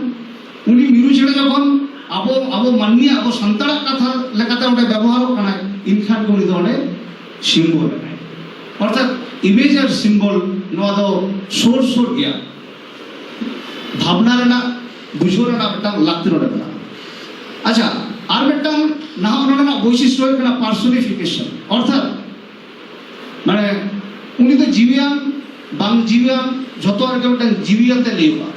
ᱩᱱᱤ ᱢᱤᱨᱩ ᱪᱮᱬᱮ ᱡᱚᱠᱷᱚᱱ ᱟᱵᱚ ᱟᱵᱚ ᱢᱟᱹᱱᱢᱤ ᱟᱵᱚ ᱥᱟᱱᱛᱟᱲᱟᱜ ᱠᱟᱛᱷᱟ ᱞᱮᱠᱟᱛᱮ ᱚᱸᱰᱮ ᱵᱮᱵᱚᱦᱟᱨᱚᱜ ᱠᱟᱱᱟ ᱤᱱᱠᱷᱟᱱ ᱜᱮ ᱩᱱᱤ ᱫᱚ ᱚᱸᱰᱮ ᱥᱤᱢᱵᱚᱞ ᱠᱟᱱᱟᱭ ᱚᱨᱛᱷᱟᱛ ᱤᱢᱮᱡᱽ ᱟᱨ ᱥᱤᱢᱵᱚᱞ ᱱᱚᱣᱟ ᱫᱚ ᱥᱩᱨ ᱥᱩᱨ ᱜᱮᱭᱟ ᱵᱷᱟᱵᱽᱱᱟ ᱨᱮᱱᱟᱜ ᱵᱩᱡᱷᱟᱹᱣ ᱨᱮᱱᱟᱜ ᱢᱤᱫᱴᱟᱝ ᱞᱟᱹᱠᱛᱤ ᱱᱚᱰᱮ ᱢᱮᱱᱟᱜᱼᱟ ᱟᱪᱪᱷᱟ ᱟᱨ ᱢᱤᱫᱴᱟᱝ ᱱᱟᱦᱟᱜ ᱚᱱᱚᱬᱦᱮ ᱨᱮᱱᱟᱜ ᱵᱳᱭᱥᱤᱥᱴᱚ ᱦᱩᱭᱩᱜ ᱠᱟᱱᱟ ᱯᱟᱨᱥᱚᱱᱤᱯᱷᱤᱠᱮᱥᱚᱱ ᱚᱨᱛᱷᱟᱛ ᱢᱟᱱᱮ ᱩᱱᱤ ᱫᱚ ᱡᱤᱣᱤᱭᱟᱱ ᱵᱟᱝ ᱡᱤᱣᱤᱭᱟᱱ ᱡᱷᱚᱛᱚ ᱨᱮᱜᱮ ᱢᱤᱫᱴᱟᱝ ᱡᱤᱣᱤᱭᱟᱛᱮ ᱞᱟᱹᱭᱚᱜᱼᱟ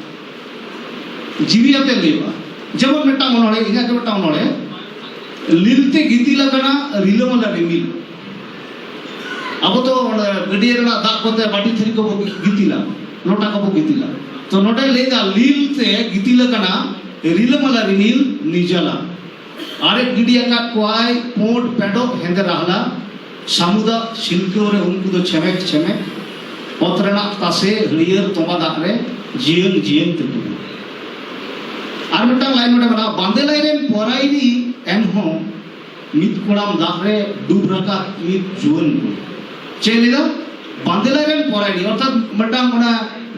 ᱡᱤᱣᱤᱭᱟᱛᱮ ᱞᱟᱹᱭᱚᱜᱼᱟ ᱡᱮᱢᱚᱱ ᱢᱤᱫᱴᱟᱝ ᱚᱱᱚᱬᱦᱮ ᱤᱧᱟᱹᱜ ᱜᱮ ᱢᱤᱫᱴᱟᱝ ᱚᱱᱚᱬᱦᱮ ᱞᱤᱞᱛᱮ ᱜᱤᱛᱤᱞ ᱟᱠᱟᱱᱟ ᱨᱤᱞᱟᱹᱢᱟᱞᱟ ᱨᱤᱢᱤᱞ ᱟᱵᱚ ᱫᱚ ᱜᱟᱹᱰᱭᱟᱹ ᱨᱮᱱᱟᱜ ᱫᱟᱜ ᱠᱚᱛᱮ ᱵᱟᱹᱴᱤ ᱛᱷᱟᱹᱨᱤ ᱠᱚᱵᱚ ᱜᱤᱛᱤᱞᱟ ᱞᱚᱴᱟ ᱠᱚᱵᱚ ᱜᱤᱛᱤᱞᱟ ᱛᱚ ᱱᱚᱰᱮ ᱞᱟᱹᱭᱫᱟ ᱞᱤᱞ ᱛᱮ ᱜᱤᱛᱤᱞ ᱟᱠᱟᱱᱟ ᱨᱤᱞᱟᱹᱢᱟᱞᱟ ᱨᱤᱱᱤᱞ ᱱᱤᱡᱟᱞᱟ ᱟᱨᱮᱡ ᱜᱤᱰᱤ ᱟᱠᱟᱫ ᱠᱚᱣᱟᱭ ᱯᱩᱸᱰ ᱯᱮᱰᱚᱜ ᱦᱮᱸᱫᱮ ᱨᱟᱦᱞᱟ ᱥᱟᱢᱩᱫᱟ ᱥᱤᱞᱠᱟᱹᱣ ᱨᱮ ᱩᱱᱠᱩ ᱫᱚ ᱪᱷᱮᱢᱮᱠ ᱪᱷᱮᱢᱮᱠ ᱚᱛ ᱨᱮᱱᱟᱜ ᱛᱟᱥᱮ ᱦᱟᱹᱨᱭᱟᱹᱲ ᱛᱚᱢᱟ ᱫᱟᱜ ᱨᱮ ᱡᱤᱭᱟᱹᱝ ᱡᱤᱭᱟᱹᱝ ᱛᱮᱠᱚ ᱟᱨ ᱢᱤᱫᱴᱟᱝ ᱞᱟᱭᱤᱱ ᱱᱚᱰᱮ ᱢᱮᱱᱟᱜᱼᱟ ᱵᱟᱸᱫᱮ ᱞᱟᱭ ᱨᱮᱱ ᱯᱚᱨᱟᱭᱤᱱᱤ ᱮᱱᱦᱚᱸ ᱢᱤᱫ ᱠᱚᱲᱟᱢ ᱫᱟᱜ ᱨᱮ ᱰᱩᱵ ᱨᱟᱠᱟᱵ ᱢᱤᱫ ᱡᱩᱣᱟᱹᱱ ᱠᱩᱲᱤ ᱪᱮᱫ ᱞᱮᱫᱟ ᱵᱟᱸᱫᱮᱞᱟᱭ ᱨᱮᱱ ᱯᱚᱨᱟᱭᱱᱤ ᱚᱨᱛᱷᱟᱛ ᱢᱤᱫᱴᱟᱝ ᱚᱱᱟ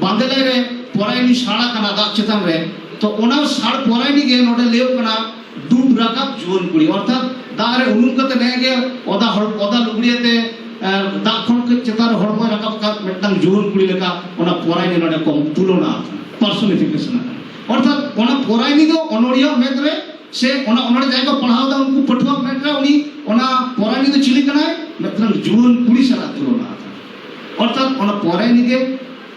ᱵᱟᱸᱫᱮᱞᱟᱭ ᱨᱮ ᱯᱚᱨᱟᱭᱱᱤ ᱥᱟᱲ ᱟᱠᱟᱱᱟ ᱫᱟᱜ ᱪᱮᱛᱟᱱ ᱨᱮ ᱛᱚ ᱚᱱᱟ ᱥᱟᱲ ᱯᱚᱨᱟᱭᱱᱤ ᱜᱮ ᱱᱚᱰᱮ ᱞᱟᱹᱭᱚᱜ ᱠᱟᱱᱟ ᱰᱩᱵ ᱨᱟᱠᱟᱵ ᱡᱩᱣᱟᱹᱱ ᱠᱩᱲᱤ ᱚᱨᱛᱷᱟᱛ ᱫᱟᱜ ᱨᱮ ᱩᱱᱩᱢ ᱠᱟᱛᱮ ᱱᱮ ᱜᱮ ᱚᱫᱟ ᱦᱚᱲ ᱚᱫᱟ ᱞᱩᱜᱽᱲᱤᱭᱟᱛᱮ ᱫᱟᱜ ᱠᱷᱚᱱ ᱠᱟᱹᱡ ᱪᱮᱛᱟᱱ ᱨᱮ ᱦᱚᱲᱢᱚᱭ ᱨᱟᱠᱟᱵ ᱠᱟᱛ ᱢᱤᱫᱴᱟᱝ ᱡᱩᱣᱟᱹᱱ ᱠᱩᱲᱤ ᱞᱮᱠᱟ ᱚᱱᱟ ᱯᱚᱨᱟᱭᱱᱤ ᱱᱚᱰᱮ ᱠᱚ ᱛᱩᱞᱚᱱᱟ ᱯᱟᱨᱥᱚᱱᱤᱯᱷᱤᱠᱮᱥᱚᱱ ᱟᱠᱟᱱᱟ ᱚᱨᱛᱷᱟᱛ ᱚᱱᱟ ᱯᱚᱨᱟᱭᱱᱤ ᱫᱚ ᱚᱱᱚᱲᱦᱤᱭᱟᱹ ᱢᱮᱫ ᱨᱮ ᱥᱮ ᱚᱱᱟ ᱚᱱᱚᱲ ᱡᱟᱭᱜᱟ ᱯᱟᱲᱦᱟᱣ ᱫᱟ ᱩᱱᱠᱩ ᱯᱟᱹᱴᱷᱩᱣᱟᱹ ᱢᱮᱱᱟ ᱩᱱᱤ ᱚᱱᱟ ᱯᱚᱨᱟᱭᱱᱤ ᱫᱚ ᱪᱤᱞᱤ ᱠᱟᱱᱟᱭ ᱢᱤᱫᱴᱟᱝ ᱡᱩᱣᱟᱹᱱ ᱠᱩᱲᱤ ᱥᱟᱞᱟᱜ ᱛᱩᱞᱚᱱᱟ ᱚᱨᱛᱷᱟᱛ ᱚᱱᱟ ᱯᱚᱨᱟᱭᱱᱤ ᱜᱮ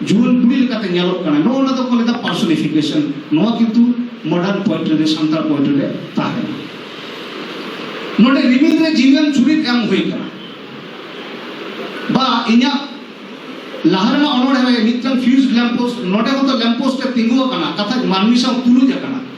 ᱡᱩᱣᱟᱹᱱ ᱠᱩᱲᱤ ᱞᱮᱠᱟᱛᱮ ᱧᱮᱞᱚᱜ ᱠᱟᱱᱟ ᱱᱚᱣᱟ ᱚᱱᱟ ᱫᱚᱠᱚ ᱞᱮᱫᱟ ᱯᱟᱨᱥᱚᱱᱤᱯᱷᱤᱠᱮᱥᱚᱱ ᱱᱚᱣᱟ ᱠᱤᱱᱛᱩ ᱢᱚᱰᱟᱨᱱ ᱯᱚᱭᱮᱴᱨᱤ ᱨᱮ ᱥᱟᱱᱛᱟᱲ ᱯᱚᱭᱮᱴᱨᱤ ᱨᱮ ᱛᱟᱦᱮᱱᱟ ᱱᱚᱰᱮ ᱨᱤᱢᱤᱞ ᱨᱮ ᱡᱤᱣᱤᱭᱟᱱ ᱪᱩᱨᱤᱛ ᱮᱢ ᱦᱩᱭ ᱠᱟᱱᱟ ᱵᱟ ᱤᱧᱟᱹᱜ ᱞᱟᱦᱟ ᱨᱮᱱᱟᱜ ᱚᱱᱚᱲᱦᱮᱸ ᱨᱮ ᱢᱤᱫᱴᱟᱝ ᱯᱷᱤᱭᱩᱡᱽ ᱞᱮᱢᱯᱳᱥᱴ ᱱᱚᱰᱮ ᱦᱚᱸᱛᱚ ᱞᱮᱢᱯᱳᱥᱴ ᱮ ᱛᱤᱸᱜᱩ ᱟᱠᱟᱱᱟ ᱠᱟᱛᱷᱟ ᱢᱟᱹᱱᱢᱤ ᱥᱟᱶ ᱛᱩᱞᱩᱡ ᱟᱠᱟᱱᱟ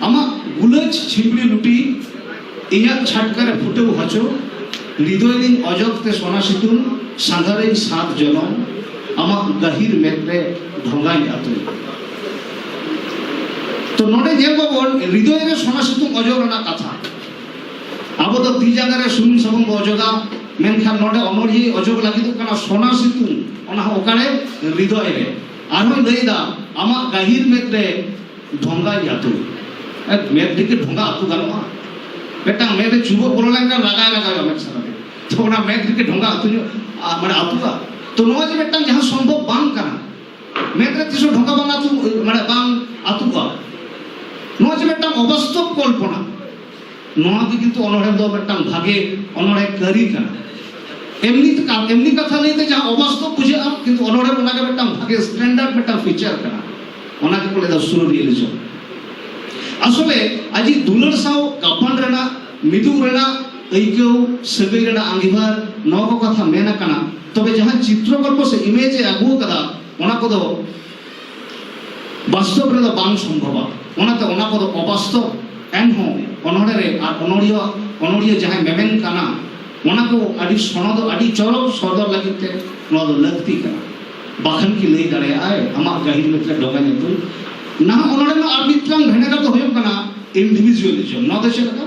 ᱟᱢᱟᱜ ᱜᱩᱞᱟᱹᱡ ᱪᱷᱤᱢᱲᱤ ᱞᱩᱴᱤ ᱤᱧᱟᱜ ᱪᱷᱟᱴᱠᱟ ᱨᱮ ᱯᱷᱩᱴᱟᱹᱣ ᱦᱚᱪᱚ ᱦᱨᱤᱫᱚᱭ ᱨᱤᱧ ᱚᱡᱚᱜ ᱛᱮ ᱥᱚᱱᱟ ᱥᱤᱛᱩᱝ ᱥᱟᱸᱜᱷᱟ ᱨᱤᱧ ᱥᱟᱛ ᱡᱚᱱᱚᱢ ᱟᱢᱟᱜ ᱜᱟᱹᱦᱤᱨ ᱢᱮᱫ ᱨᱮ ᱰᱷᱚᱸᱜᱟᱧ ᱟᱛᱩᱭ ᱛᱚ ᱱᱚᱰᱮ ᱧᱮᱞ ᱵᱟᱵᱚᱱ ᱦᱨᱤᱫᱚᱭ ᱨᱮ ᱥᱚᱱᱟ ᱥᱤᱛᱩᱝ ᱚᱡᱚᱜ ᱨᱮᱱᱟᱜ ᱠᱟᱛᱷᱟ ᱟᱵᱚ ᱫᱚ ᱛᱤ ᱡᱟᱸᱜᱟ ᱨᱮ ᱥᱩᱱᱩᱢ ᱥᱟᱵᱚᱱ ᱵᱚ ᱚᱡᱚᱜᱟ ᱢᱮᱱᱠᱷᱟᱱ ᱱᱚᱰᱮ ᱚᱱᱚᱲᱦᱤᱭᱟᱹ ᱚᱡᱚᱜ ᱞᱟᱹᱜᱤᱫᱚᱜ ᱠᱟᱱᱟ ᱥᱚᱱᱟ ᱥᱤᱛᱩᱝ ᱚᱱᱟ ᱦᱚᱸ ᱚᱠᱟᱨᱮ ᱦᱨᱤᱫᱚᱭ ᱨᱮ ᱟᱨᱦᱚᱸ ᱞᱟᱹᱭᱫᱟ ᱟᱢᱟᱜ ᱜᱟᱹᱦᱤᱨ ᱢᱮᱫ ᱨᱮ ᱰᱷᱚᱝᱜᱟ ᱟᱹᱛᱩ ᱢᱮᱫ ᱫᱤᱠᱮ ᱰᱷᱚᱝᱜᱟ ᱟᱹᱛᱩ ᱜᱟᱱᱚᱜᱼᱟ ᱢᱤᱫᱴᱟᱝ ᱢᱮᱫ ᱨᱮ ᱪᱩᱵᱟᱹ ᱵᱚᱞᱚ ᱞᱮᱱᱠᱷᱟᱱ ᱞᱟᱜᱟᱭ ᱞᱟᱜᱟᱭᱚᱜᱼᱟ ᱢᱮᱫ ᱥᱟᱨᱟ ᱛᱮ ᱛᱚ ᱚᱱᱟ ᱢᱮᱫ ᱫᱤᱠᱮ ᱰᱷᱚᱝᱜᱟ ᱟᱹᱛᱩ ᱧᱚᱜ ᱢᱟᱱᱮ ᱟᱹᱛᱩᱜᱼᱟ ᱛᱚ ᱱᱚᱣᱟ ᱡᱮ ᱢᱤᱫᱴᱟᱝ ᱡᱟᱦᱟᱸ ᱥᱚᱢᱵᱷᱚᱵ ᱵᱟᱝ ᱠᱟᱱᱟ ᱢᱮᱫ ᱨᱮ ᱛᱤᱥ ᱦᱚᱸ ᱰᱷᱚᱝᱜᱟ ᱵᱟᱝ ᱟᱹᱛᱩ ᱢᱟᱱᱮ ᱵᱟᱝ ᱟᱹᱛᱩᱜᱼᱟ ᱱᱚᱣᱟ ᱡᱮ ᱢᱤᱫᱴᱟᱝ ᱚᱵᱟᱥᱛᱚᱵ ᱠᱚᱞᱯᱚᱱᱟ ᱱᱚᱣᱟ ᱜᱮ ᱠᱤᱱᱛᱩ ᱚᱱᱚᱲᱦᱮ ᱫᱚ ᱢᱤᱫᱴᱟᱝ ᱵᱷᱟᱜᱮ ᱚᱱᱚᱲᱦᱮ ᱠᱟᱹᱨᱤ ᱠᱟᱱᱟ ᱮᱢᱱᱤ ᱮᱢᱱᱤ ᱠᱟᱛᱷᱟ ᱞᱟᱹᱭᱛᱮ ᱡᱟᱦᱟᱸ ᱚᱵᱟᱥᱛᱚᱵ ᱵᱩᱡᱷᱟᱹᱜᱼᱟ ᱠᱤᱱᱛᱩ ᱚᱱᱚᱲᱦᱮ ᱚᱱᱟ ᱜᱮ ᱢᱤᱫᱴᱟᱝ ᱵᱷᱟᱜᱮ ᱥᱴᱮᱱᱰᱟᱨᱰ ᱢᱤᱫᱴᱟᱝ ᱯᱷᱤᱪᱟᱨ ᱠᱟᱱᱟ ᱚᱱᱟ ᱜᱮ ᱠᱚ ᱞᱟᱹᱭᱫᱟ ᱥᱩᱨ ᱨᱤᱭᱮᱞᱤᱡᱚᱢ ᱟᱥᱚᱞᱮ ᱟᱡᱤ ᱫᱩᱞᱟᱹᱲ ᱥᱟᱶ ᱜᱟᱯᱟᱱ ᱨᱮᱱᱟᱜ ᱢᱤᱫᱩ ᱨᱮᱱᱟᱜ ᱟᱹᱭᱠᱟᱹᱣ ᱥᱟᱹᱜᱟᱹᱭ ᱨᱮᱱᱟᱜ ᱟᱸᱜᱤᱵᱷᱟᱨ ᱱᱚᱣᱟ ᱠᱚ ᱠᱟᱛᱷᱟ ᱢᱮᱱ ᱟᱠᱟᱱᱟ ᱛᱚᱵᱮ ᱡᱟᱦᱟᱸ ᱪᱤᱛᱨᱚ ᱜᱚᱞᱯᱚ ᱥᱮ ᱤᱢᱮᱡᱽ ᱮ ᱟᱹᱜᱩ ᱟᱠᱟᱫᱟ ᱚᱱᱟ ᱠᱚᱫᱚ ᱵᱟᱥᱛᱚᱵ ᱨᱮᱫᱚ ᱵᱟᱝ ᱥᱚᱢᱵᱷᱚᱵᱟ ᱚᱱᱟᱛᱮ ᱚᱱᱟ ᱠᱚᱫᱚ ᱚᱵᱟᱥᱛᱚᱵ ᱮᱱᱦᱚᱸ ᱚᱱᱚᱬᱦᱮ ᱨᱮ ᱟᱨ ᱚᱱᱚᱬᱦᱤᱭᱟᱹ ᱚᱱᱚᱬᱦᱤᱭᱟᱹ ᱡᱟᱦᱟᱸᱭ ᱢᱮᱢᱮᱱ ᱠᱟᱱᱟ ᱚᱱᱟ ᱠᱚ ᱟᱹᱰᱤ ᱥᱚᱱᱚ ᱫᱚ ᱟᱹᱰᱤ ᱪᱚᱨᱚᱠ ᱥᱚᱫᱚᱨ ᱞᱟᱹᱜᱤᱫ ᱛᱮ ᱱᱚᱣᱟ ᱫᱚ ᱞᱟᱹᱠᱛᱤ ᱠᱟᱱᱟ ᱵᱟᱠᱷᱟᱱ ᱠᱤ ᱞᱟᱹᱭ ᱫᱟᱲᱮᱭᱟᱜᱼᱟᱭ ᱟᱢᱟᱜ ᱜᱟᱹᱦᱤᱨ ᱢᱮᱛᱨᱮ ᱰᱚᱜᱟ ᱧᱩᱛᱩᱢ ᱱᱟᱦᱟᱜ ᱚᱱᱚᱬᱦᱮ ᱨᱮᱱᱟᱜ ᱟᱨ ᱢᱤᱫᱴᱟᱝ ᱵᱷᱮᱱᱮᱜᱟᱨ ᱫᱚ ᱦᱩᱭᱩᱜ ᱠᱟᱱᱟ ᱤᱱᱰᱤᱵᱷᱤᱡᱩᱣᱟᱞᱤᱡᱚᱢ ᱱᱚᱣᱟ ᱫᱚ ᱪᱮᱫ ᱞᱮᱠᱟ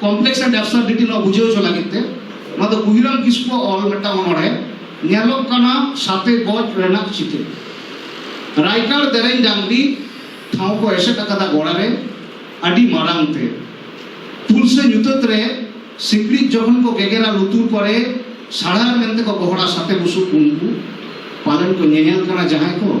ᱠᱚᱢᱯᱞᱮᱠᱥ ᱮᱱᱰ ᱮᱵᱥᱚᱨᱰᱤᱴᱤ ᱱᱚᱣᱟ ᱵᱩᱡᱷᱟᱹᱣ ᱦᱚᱪᱚ ᱞᱟᱹᱜᱤᱫ ᱛᱮ ᱱᱚᱣᱟ ᱫᱚ ᱠᱩᱦᱤᱨᱟᱢ ᱠᱤᱥᱠᱩ ᱚᱞ ᱢᱤᱫᱴᱟᱝ ᱚᱱᱚᱬᱦᱮ ᱧᱮᱞᱚᱜ ᱠᱟᱱᱟ ᱥᱟᱛᱮ ᱜᱚᱡ ᱨᱮᱱᱟᱜ ᱪᱤᱛᱟᱹᱨ ᱨᱟᱭᱜᱟᱲ ᱫᱮᱨᱮᱧ ᱰᱟᱝᱨᱤ ᱴᱷᱟᱶ ᱠᱚ ᱮᱥᱮᱫ ᱟᱠᱟᱫᱟ ᱜᱚᱲᱟ ᱨᱮ ᱟᱹᱰᱤ ᱢᱟᱨᱟᱝ ᱛᱮ ᱯᱩᱞ ᱥᱮ ᱧᱩᱛᱟᱹᱛ ᱨᱮ ᱥᱤᱠᱲᱤᱡ ᱡᱚᱠᱷᱚᱱ ᱠᱚ ᱜᱮᱜᱮᱨᱟ ᱞᱩᱛᱩᱨ ᱠᱚᱨᱮ ᱥᱟᱲᱟᱨ ᱢᱮᱱᱛᱮ ᱠᱚ ᱜᱚᱦᱚᱲᱟ ᱥᱟᱛᱮ ᱵᱩᱥᱩᱵ ᱩᱱᱠᱩ ᱯᱟᱞᱮᱱ ᱠᱚ ᱧᱮᱧᱮᱞ ᱠᱟᱱᱟ ᱡᱟᱦᱟᱸᱭ ᱠᱚ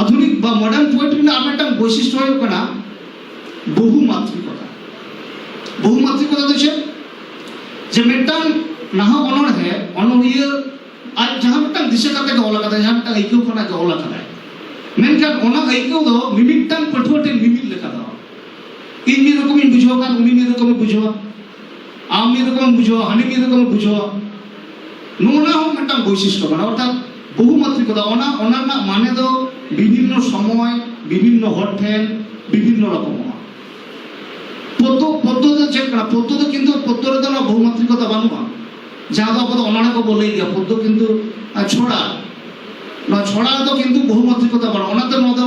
ᱟᱫᱷᱩᱱᱤᱠ ᱵᱟ ᱢᱚᱰᱟᱨᱱ ᱯᱳᱭᱮᱴᱨᱤ ᱨᱮᱱᱟᱜ ᱢᱤᱫᱴᱟᱝ ᱵᱳᱭᱥᱤᱥᱴᱚ ᱦᱩᱭᱩᱜ ᱠᱟᱱᱟ ᱵᱚᱦᱩᱢᱟᱛᱨᱤᱠᱚᱛᱟ ᱵᱚᱦᱩᱢᱟᱛᱨᱤᱠᱚᱛᱟ ᱫᱚ ᱪᱮᱫ ᱡᱮ ᱢᱤᱫᱴᱟᱝ ᱱᱟᱦᱟᱜ ᱚᱱᱚᱬᱦᱮ ᱚᱱᱚᱬᱦᱤᱭᱟᱹ ᱟᱡ ᱡᱟᱦᱟᱸ ᱢᱤᱫᱴᱟᱝ ᱫᱤᱥᱟᱹ ᱠᱟᱛᱮ ᱜᱮ ᱚᱞ ᱟᱠᱟᱫᱟᱭ ᱡᱟᱦᱟᱸ ᱢᱤᱫᱴᱟᱝ ᱟᱹᱭᱠᱟᱹᱣ ᱠᱷᱚᱱᱟᱜ ᱜᱮ ᱚᱞ ᱟᱠᱟᱫᱟᱭ ᱢᱮᱱᱠᱷᱟᱱ ᱚᱱᱟ ᱟᱹᱭᱠᱟᱹᱣ ᱫᱚ ᱢᱤᱢᱤᱫᱴᱟᱝ ᱯᱟᱹᱴᱷᱩᱣᱟᱹ ᱴᱷᱮᱱ ᱢᱤᱢᱤᱫ ᱞᱮᱠᱟ ᱫᱚ ᱤᱧ ᱢᱤᱫ ᱨᱚᱠᱚᱢᱤᱧ ᱵᱩᱡᱷᱟᱹᱣ ᱠᱷᱟᱱ ᱩᱱᱤ ᱢᱤᱫ ᱨᱚᱠᱚᱢᱮ ᱵᱩᱡᱷᱟᱹᱣᱟ ᱟᱢ ᱢᱤᱫ ᱨᱚᱠᱚᱢ ᱵᱩᱡᱷᱟᱹᱣᱟ ᱦᱟᱹᱱᱤ ᱢᱤᱫ ᱨᱚᱠᱚᱢ ᱵᱩᱡᱷᱟᱹᱣᱟ ᱱᱚᱣᱟ ᱦᱚᱸ ᱢᱤᱫᱴᱟᱝ ᱵᱳᱭᱥᱤᱥᱴᱚ ᱠᱟᱱᱟ ᱚᱨᱛᱷᱟᱛ ᱵᱚᱦᱩᱢᱟᱛᱨᱤᱠᱚᱛᱟ ᱚᱱᱟ ᱚᱱᱟ ᱨᱮᱱᱟᱜ ᱢᱟᱱᱮ ᱫᱚ ᱵᱤᱵᱷᱤᱱᱱᱚ ᱥᱚᱢᱚᱭ ᱵᱤᱵᱷᱤᱱᱱᱚ ᱦᱚᱲ ᱴᱷᱮᱱ ᱵᱤᱵᱷᱤᱱᱱᱚ ᱨᱚᱠᱚᱢᱚᱜᱼᱟ ᱯᱚᱫᱽᱫᱚ ᱯᱚᱫᱽᱫᱚ ᱫᱚ ᱪᱮᱫ ᱠᱟᱱᱟ ᱯᱚᱫᱽᱫᱚ ᱫᱚ ᱠᱤᱱᱛᱩ ᱯᱚᱫᱽᱫᱚ ᱨᱮᱫᱚ ᱚᱱᱟ ᱵᱚᱦᱩᱢᱟᱛᱨᱤᱠᱚᱛᱟ ᱵᱟᱹᱱᱩᱜᱼᱟ ᱡᱟᱦᱟᱸ ᱫᱚ ᱟᱵᱚ ᱫᱚ ᱚᱱᱚᱬᱦᱮ ᱠᱚᱵᱚ ᱞᱟᱹᱭ ᱜᱮᱭᱟ ᱯᱚᱫᱽᱫᱚ ᱠᱤᱱᱛᱩ ᱪᱷᱚᱲᱟ ᱱᱚᱣᱟ ᱪᱷᱚᱲᱟ ᱨᱮᱫᱚ ᱠᱤᱱᱛᱩ ᱵᱚᱦᱩᱢᱟᱛᱨᱤᱠᱚᱛᱟ ᱵᱟᱹᱱᱩᱜᱼᱟ ᱚᱱᱟᱛᱮ ᱱᱚᱣᱟ ᱫᱚ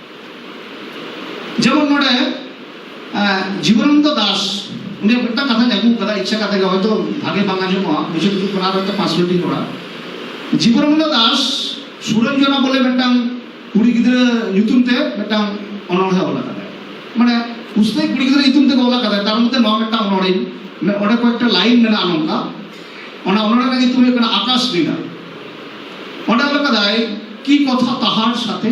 ᱡᱮᱢᱚᱱ ᱱᱚᱰᱮ ᱡᱤᱵᱚᱱᱟᱱᱫ ᱫᱟᱥ ᱩᱱᱤ ᱢᱤᱫᱴᱟᱝ ᱠᱟᱛᱷᱟ ᱟᱹᱜᱩ ᱠᱟᱫᱟ ᱤᱪᱪᱷᱟ ᱠᱟᱛᱮ ᱜᱮ ᱦᱚᱭᱛᱚ ᱵᱷᱟᱜᱮ ᱵᱟᱝ ᱟᱸᱡᱚᱢᱚᱜᱼᱟ ᱵᱩᱡᱷᱟᱹᱣ ᱫᱩᱠ ᱠᱟᱱᱟ ᱦᱚᱭᱛᱚ ᱯᱟᱸᱪ ᱢᱤᱱᱤᱴ ᱤᱧ ᱨᱚᱲᱟ ᱡᱤᱵᱚᱱᱟᱱᱫ ᱫᱟᱥ ᱥᱩᱨᱚᱧᱡᱚᱱᱟ ᱵᱚᱞᱮ ᱢᱤᱫᱴᱟᱝ ᱠᱩᱲᱤ ᱜᱤᱫᱽᱨᱟᱹ ᱧᱩᱛᱩᱢ ᱛᱮ ᱢᱤᱫᱴᱟᱝ ᱚᱱᱚᱬᱦᱮ ᱚᱞ ᱟᱠᱟᱫᱟᱭ ᱢᱟᱱᱮ ᱩᱥᱛᱟᱹᱭ ᱠᱩᱲᱤ ᱜᱤᱫᱽᱨᱟᱹ ᱧᱩᱛᱩᱢ ᱛᱮ ᱚᱞ ᱟᱠᱟᱫᱟᱭ ᱛᱟᱨ ᱢᱚᱫᱽᱫᱷᱮ ᱱᱚᱣᱟ ᱢᱤᱫᱴᱟᱝ ᱚᱱᱚᱬᱦᱮ ᱚᱸᱰᱮ ᱠᱚᱭᱮᱠᱴᱟ ᱞᱟᱭᱤᱱ ᱢᱮᱱᱟᱜᱼᱟ ᱱᱚᱝᱠᱟ ᱚᱱᱟ ᱚᱱᱚᱬᱦᱮ ᱨᱮᱱᱟᱜ ᱧᱩᱛᱩᱢ ᱦᱩᱭᱩᱜ ᱠᱟᱱᱟ ᱟᱠᱟᱥ ᱵᱤᱱᱟ ᱚᱸᱰᱮ ᱚᱞ ᱟᱠᱟᱫᱟᱭ ᱠᱤ ᱠᱚᱛᱷᱟ ᱛᱟᱦᱟᱨ ᱥᱟᱛᱷᱮ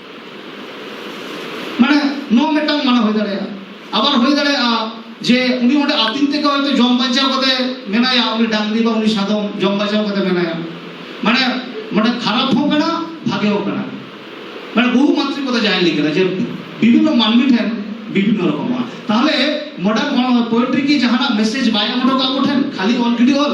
ᱢᱟᱱᱮ ᱱᱚᱣᱟ ᱢᱤᱫᱴᱟᱝ ᱢᱟᱱᱟ ᱦᱩᱭ ᱫᱟᱲᱮᱭᱟᱜᱼᱟ ᱟᱵᱟᱨ ᱦᱩᱭ ᱫᱟᱲᱮᱭᱟᱜᱼᱟ ᱡᱮ ᱩᱱᱤ ᱚᱸᱰᱮ ᱟᱹᱛᱤᱧ ᱛᱮᱜᱮ ᱦᱚᱭᱛᱳ ᱡᱚᱢ ᱵᱟᱧᱪᱟᱣ ᱠᱟᱛᱮ ᱢᱮᱱᱟᱭᱟ ᱩᱱᱤ ᱰᱟᱝᱨᱤ ᱵᱟ ᱩᱱᱤ ᱥᱟᱫᱚᱢ ᱡᱚᱢ ᱵᱟᱧᱪᱟᱣ ᱠᱟᱛᱮ ᱢᱮᱱᱟᱭᱟ ᱢᱟᱱᱮ ᱢᱟᱱᱮ ᱠᱷᱟᱨᱟᱯ ᱦᱚᱸ ᱠᱟᱱᱟ ᱵᱷᱟᱜᱮ ᱦᱚᱸ ᱠᱟᱱᱟ ᱢᱟᱱᱮ ᱵᱚᱦᱩ ᱢᱟᱛᱨᱤ ᱠᱚᱫᱚ ᱡᱟᱦᱟᱸᱭ ᱞᱟᱹᱭ ᱠᱟᱫᱟ ᱡᱮ ᱵᱤᱵᱷᱤᱱᱱ ᱢᱟᱹᱱᱢᱤ ᱴᱷᱮᱱ ᱵᱤᱵᱷᱤᱱᱱ ᱨᱚᱠᱚᱢᱟ ᱛᱟᱦᱞᱮ ᱢᱚᱰᱟᱨᱱ ᱯᱳᱭᱮᱴᱨᱤ ᱠᱤ ᱡᱟᱦᱟᱱᱟᱜ ᱢᱮᱥᱮᱡᱽ ᱵᱟᱭ ᱮᱢ ᱦᱚᱴᱚ ᱠᱟᱜ ᱠᱚ ᱴᱷᱮᱱ ᱠᱷᱟᱹᱞᱤ ᱚᱞ ᱜᱤᱰᱤ ᱚᱞ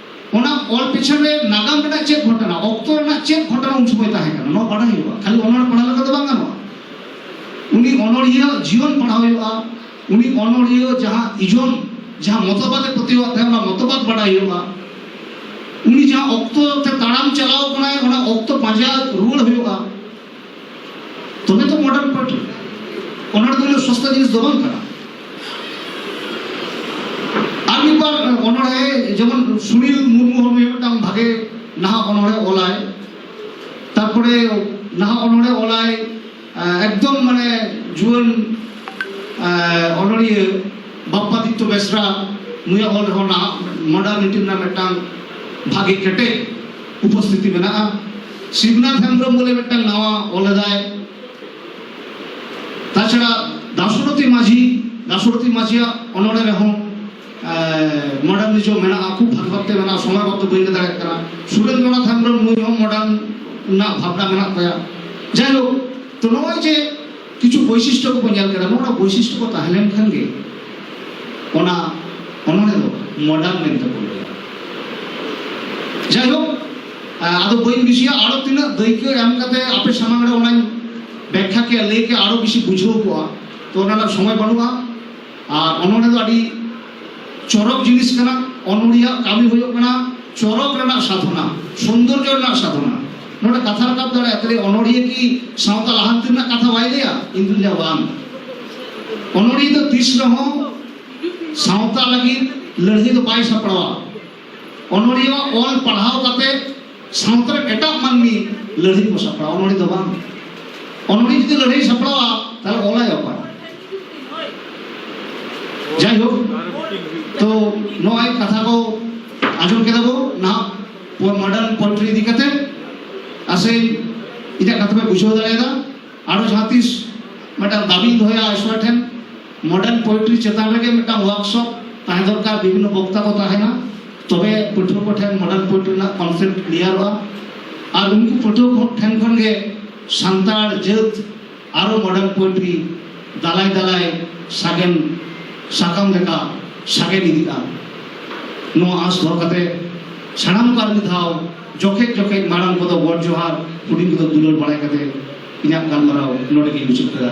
ᱚᱱᱟ ᱚᱞ ᱯᱤᱪᱷᱚᱱ ᱨᱮ ᱱᱟᱜᱟᱢ ᱨᱮᱱᱟᱜ ᱪᱮᱫ ᱜᱷᱚᱴᱚᱱᱟ ᱚᱠᱛᱚ ᱨᱮᱱᱟᱜ ᱪᱮᱫ ᱜᱷᱚᱴᱚᱱᱟ ᱩᱱ ᱥᱚᱢᱚᱭ ᱛᱟᱦᱮᱸ ᱠᱟᱱᱟ ᱱᱚᱣᱟ ᱵᱟᱰᱟᱭ ᱦᱩᱭᱩᱜᱼᱟ ᱠᱷᱟᱹᱞᱤ ᱚᱱᱚᱲ ᱯᱟᱲᱦᱟᱣ ᱞᱮᱠᱟ ᱫᱚ ᱵᱟᱝ ᱜᱟᱱᱚᱜᱼᱟ ᱩᱱᱤ ᱚᱱᱚᱲᱤᱭᱟᱹ ᱡᱤᱭᱚᱱ ᱯᱟᱲᱦᱟᱣ ᱦᱩᱭᱩᱜᱼᱟ ᱩᱱᱤ ᱚᱱᱚᱲᱤᱭᱟᱹ ᱡᱟᱦᱟᱸ ᱤᱡᱚᱢ ᱡᱟᱦᱟᱸ ᱢᱚᱛᱚᱵᱟᱫ ᱮ ᱯᱟᱹᱛᱭᱟᱹᱣᱟᱜ ᱛᱟᱦᱮᱸ ᱚᱱᱟ ᱢᱚᱛᱚᱵᱟᱫ ᱵᱟᱰᱟᱭ ᱦᱩᱭᱩᱜᱼᱟ ᱩᱱᱤ ᱡᱟᱦᱟᱸ ᱚᱠᱛᱚ ᱛᱮ ᱛᱟᱲᱟᱢ ᱪᱟᱞᱟᱣ ᱠᱟᱱᱟᱭ ᱚᱱᱟ ᱚᱠᱛᱚ ᱯᱟᱸᱡᱟ ᱨᱩᱣᱟᱹᱲ ᱦᱩᱭᱩᱜᱼᱟ ᱛᱚᱵᱮ ᱛᱚ ᱢᱚᱰᱟᱨᱱ ᱯᱟᱨᱴᱤ ᱚᱱᱟ ᱫᱚ ᱩᱱᱟᱹᱜ ᱥᱚᱥᱛᱟ ᱡᱤᱱᱤᱥ ᱫᱚ ᱵᱟᱝ ᱠᱟᱱᱟ ᱟᱨ ᱢᱤᱫ ᱵᱟᱨ ᱚᱱᱚᱲᱦᱮ ᱡᱮᱢᱚᱱ ᱥᱩᱱᱤᱞ ᱢᱩᱨᱢᱩ ᱦᱚᱸ ᱱᱩᱭ ᱢᱤᱫᱴᱟᱝ ᱵᱷᱟᱜᱮ ᱱᱟᱦᱟᱜ ᱚᱱᱚᱲᱦᱮ ᱚᱞᱟᱭ ᱛᱟᱨᱯᱚᱨᱮ ᱱᱟᱦᱟᱜ ᱚᱱᱚᱲᱦᱮ ᱚᱞᱟᱭ ᱮᱠᱫᱚᱢ ᱢᱟᱱᱮ ᱡᱩᱣᱟᱹᱱ ᱚᱱᱚᱲᱤᱭᱟᱹ ᱵᱟᱯᱯᱟᱫᱤᱛᱛᱚ ᱵᱮᱥᱨᱟ ᱱᱩᱭᱟᱜ ᱚᱞ ᱨᱮᱦᱚᱸ ᱱᱟᱦᱟᱜ ᱢᱚᱰᱟᱨᱱᱤᱴᱤ ᱨᱮᱱᱟᱜ ᱢᱤᱫᱴᱟᱝ ᱵᱷᱟᱜᱮ ᱠᱮᱴᱮᱡ ᱩᱯᱚᱥᱛᱷᱤᱛᱤ ᱢᱮᱱᱟᱜᱼᱟ ᱥᱤᱵᱱᱟᱛᱷ ᱦᱮᱢᱵᱨᱚᱢ ᱵᱚᱞᱮ ᱢᱤᱫᱴᱟᱝ ᱱᱟᱣᱟ ᱚᱞ ᱞᱮᱫᱟᱭ ᱛᱟᱪᱷᱟᱲᱟ ᱫᱟᱥᱚᱨᱚᱛᱷᱤ ᱢᱟᱹᱡᱷᱤ ᱫᱟᱥᱚᱨᱚᱛᱷᱤ ᱢᱟᱹᱡᱷᱤᱭᱟᱜ ᱚᱱᱚᱲᱮ ᱨᱮᱦᱚᱸ ᱢᱚᱰᱟᱨᱱᱤᱡᱚᱢ ᱢᱮᱱᱟᱜᱼᱟ ᱠᱷᱩᱵ ᱵᱷᱟᱜᱮ ᱵᱷᱟᱵᱛᱮ ᱢᱮᱱᱟᱜᱼᱟ ᱥᱚᱢᱚᱭ ᱵᱟᱵᱛᱮ ᱵᱟᱹᱧ ᱞᱟᱹᱭ ᱫᱟᱲᱮᱭᱟᱜ ᱠᱟᱱᱟ ᱥᱩᱨᱮᱱᱫᱨᱚᱱᱟᱛᱷ ᱦᱮᱢᱵᱨᱚᱢ ᱱᱩᱭ ᱦᱚᱸ ᱢᱚᱰᱟᱨᱱ ᱨᱮᱱᱟᱜ ᱵᱷᱟᱵᱱᱟ ᱢᱮᱱᱟᱜ ᱛᱟᱭᱟ ᱡᱟᱭᱦᱳᱠ ᱛᱚ ᱱᱚᱜᱼᱚᱭ ᱡᱮ ᱠᱤᱪᱷᱩ ᱵᱳᱭᱥᱤᱥᱴᱚ ᱠᱚᱵᱚ ᱧᱮᱞ ᱠᱮᱫᱟ ᱱᱚᱜᱼᱚ ᱱᱚᱣᱟ ᱵᱳᱭᱥᱤᱥᱴᱚ ᱠᱚ ᱛᱟᱦᱮᱸ ᱞᱮᱱ ᱠᱷᱟᱱ ᱜᱮ ᱚᱱᱟ ᱚᱱᱚᱬᱦᱮ ᱫᱚ ᱢᱚᱰᱟᱨᱱ ᱢᱮᱱᱛᱮ ᱵᱚ ᱞᱟᱹᱭᱟ ᱡᱟᱭᱦᱳᱠ ᱟᱫᱚ ᱵᱟᱹᱧ ᱵᱤᱥᱤᱭᱟ ᱟᱨᱚ ᱛᱤᱱᱟᱹᱜ ᱫᱟᱹᱭᱠᱟᱹ ᱮᱢ ᱠᱟᱛᱮ ᱟᱯᱮ ᱥᱟᱢᱟᱝ ᱨᱮ ᱚᱱᱟᱧ ᱵᱮᱠᱠᱷᱟ ᱠᱮᱫ ᱞᱟᱹᱭ ᱠᱮᱫ ᱟᱨᱚ ᱵᱤᱥᱤ ᱵᱩᱡᱷᱟᱹᱣ ᱠᱚᱜᱼᱟ ᱛᱚ ᱚᱱᱟ ᱨᱮᱱᱟᱜ ᱥᱚᱢᱚᱭ ᱵᱟᱹᱱᱩᱜᱼᱟ ᱟᱨ ᱚᱱᱚᱬᱦᱮ ᱫᱚ ᱟᱹᱰᱤ ᱪᱚᱨᱚᱠ ᱡᱤᱱᱤᱥ ᱠᱟᱱᱟ ᱚᱱᱚᱬᱦᱤᱭᱟᱜ ᱠᱟᱹᱢᱤ ᱦᱩᱭᱩᱜ ᱠᱟᱱᱟ ᱪᱚᱨᱚᱠ ᱨᱮᱱᱟᱜ ᱥᱟᱫᱷᱚᱱᱟ ᱥᱩᱱᱫᱚᱨᱡᱚ ᱨᱮᱱᱟᱜ ᱥᱟᱫᱷᱚᱱᱟ ᱱᱚᱰᱮ ᱠᱟᱛᱷᱟ ᱨᱟᱠᱟᱵ ᱫᱟᱲᱮᱭᱟᱜᱼᱟ ᱛᱟᱦᱞᱮ ᱚᱱᱚᱬᱦᱤᱭᱟᱹ ᱠᱤ ᱥᱟᱶᱛᱟ ᱞᱟᱦᱟᱱᱛᱤ ᱨᱮᱱᱟᱜ ᱠᱟᱛᱷᱟ ᱵᱟᱭ ᱞᱟᱹᱭᱟ ᱤᱧ ᱫᱩᱧ ᱞᱟᱹᱭᱟ ᱵᱟᱝ ᱚᱱᱚᱬᱦᱤᱭᱟᱹ ᱫᱚ ᱛᱤᱥ ᱨᱮᱦᱚᱸ ᱥᱟᱶᱛᱟ ᱞᱟᱹᱜᱤᱫ ᱞᱟᱹᱲᱦᱟᱹᱭ ᱫᱚ ᱵᱟᱭ ᱥᱟᱯᱲᱟᱣᱟ ᱚᱱᱚᱬᱦᱤᱭᱟᱹᱣᱟᱜ ᱚᱞ ᱯᱟᱲᱦᱟᱣ ᱠᱟᱛᱮ ᱥᱟᱶᱛᱟ ᱨᱮ ᱮᱴᱟᱜ ᱢᱟᱹᱱᱢᱤ ᱞᱟᱹᱲᱦᱟᱹᱭ ᱠᱚ ᱥᱟᱯᱲᱟᱣ ᱚᱱᱚᱲᱦᱮ ᱫᱚ ᱵᱟᱝ ᱚᱱᱚᱲᱦᱮ ᱡᱩᱫᱤ ᱞᱟᱹᱲᱦᱟᱹᱭ ᱥᱟᱯᱲᱟᱣᱟ ᱛᱟᱦᱞᱮ ᱚᱞᱟᱭ ᱚᱠᱚᱭ ᱡᱟᱭ ᱦᱳᱠ ᱛᱚ ᱱᱚᱜᱼᱚᱭ ᱠᱟᱛᱷᱟ ᱠᱚ ᱟᱸᱡᱚᱢ ᱠᱮᱫᱟ ᱵᱚ ᱱᱟᱦᱟᱜ ᱢᱚᱰᱟᱨᱱ ᱯᱳᱭᱮᱴᱨᱤ ᱤᱫᱤ ᱠᱟᱛᱮ ᱟᱥᱮ ᱤᱧᱟᱹᱜ ᱠᱟᱛᱷᱟ ᱯᱮ ᱵᱩᱡᱷᱟᱹᱣ ᱫᱟᱲᱮᱭᱟᱫᱟ ᱟᱨᱚ ᱡᱟᱦᱟᱸ ᱛᱤᱥ ᱢᱤᱫᱴᱟᱝ ᱫᱟᱵᱤᱧ ᱫᱚᱦᱚᱭᱟ ᱟᱭᱥᱣᱟ ᱴᱷᱮᱱ ᱢᱚᱰᱟᱨᱱ ᱯᱳᱭᱮᱴᱨᱤ ᱪᱮᱛᱟᱱ ᱨᱮᱜᱮ ᱢᱤᱫᱴᱟᱝ ᱣᱟᱨᱠᱥᱚᱯ ᱛᱟᱦᱮᱸ ᱫᱚᱨᱠᱟᱨ ᱵᱤᱵᱷᱤᱱᱱᱚ ᱵᱚᱠᱛᱟ ᱠᱚ ᱛᱟᱦᱮᱱᱟ ᱛᱚᱵᱮ ᱯᱟᱹᱴᱷᱩᱣᱟᱹ ᱠᱚ ᱴᱷᱮᱱ ᱢᱚᱰᱟᱨᱱ ᱯᱳᱭᱮᱴᱨᱤ ᱨᱮᱱᱟᱜ ᱠᱚᱱᱥᱮᱯᱴ ᱠᱞᱤᱭᱟᱨᱚᱜᱼᱟ ᱟᱨ ᱩᱱᱠᱩ ᱯᱟᱹᱴᱷᱩᱣᱟᱹ ᱠᱚ ᱴᱷᱮᱱ ᱠᱷᱚᱱ ᱜᱮ ᱥᱟᱱᱛᱟᱲ ᱡᱟᱹᱛ ᱟᱨᱚ ᱢᱚᱰᱟᱨᱱ ᱯᱳᱭᱮᱴᱨᱤ ᱫᱟᱞᱟᱭ ᱫᱟᱞᱟᱭ ᱥᱟᱜᱮᱱ ᱥᱟᱠᱟᱢ ᱞᱮᱠᱟ ᱥᱟᱜᱮᱱ ᱤᱫᱤᱜᱼᱟ ᱱᱚᱣᱟ ᱟᱸᱥ ᱫᱚᱦᱚ ᱠᱟᱛᱮ ᱥᱟᱱᱟᱢ ᱠᱚ ᱟᱨ ᱢᱤᱫ ᱫᱷᱟᱣ ᱡᱚᱠᱷᱮᱡ ᱡᱚᱠᱷᱮᱡ ᱢᱟᱨᱟᱝ ᱠᱚᱫᱚ ᱜᱚᱰ ᱡᱚᱦᱟᱨ ᱦᱩᱰᱤᱧ ᱠᱚᱫᱚ ᱫᱩᱞᱟᱹᱲ ᱵᱟᱲᱟᱭ ᱠᱟᱛᱮ ᱤᱧᱟᱹᱜ ᱜᱟᱞᱢᱟᱨᱟᱣ ᱱᱚᱰᱮ ᱜᱮᱧ ᱢᱩᱪᱟᱹᱫ ᱠᱮᱫᱟ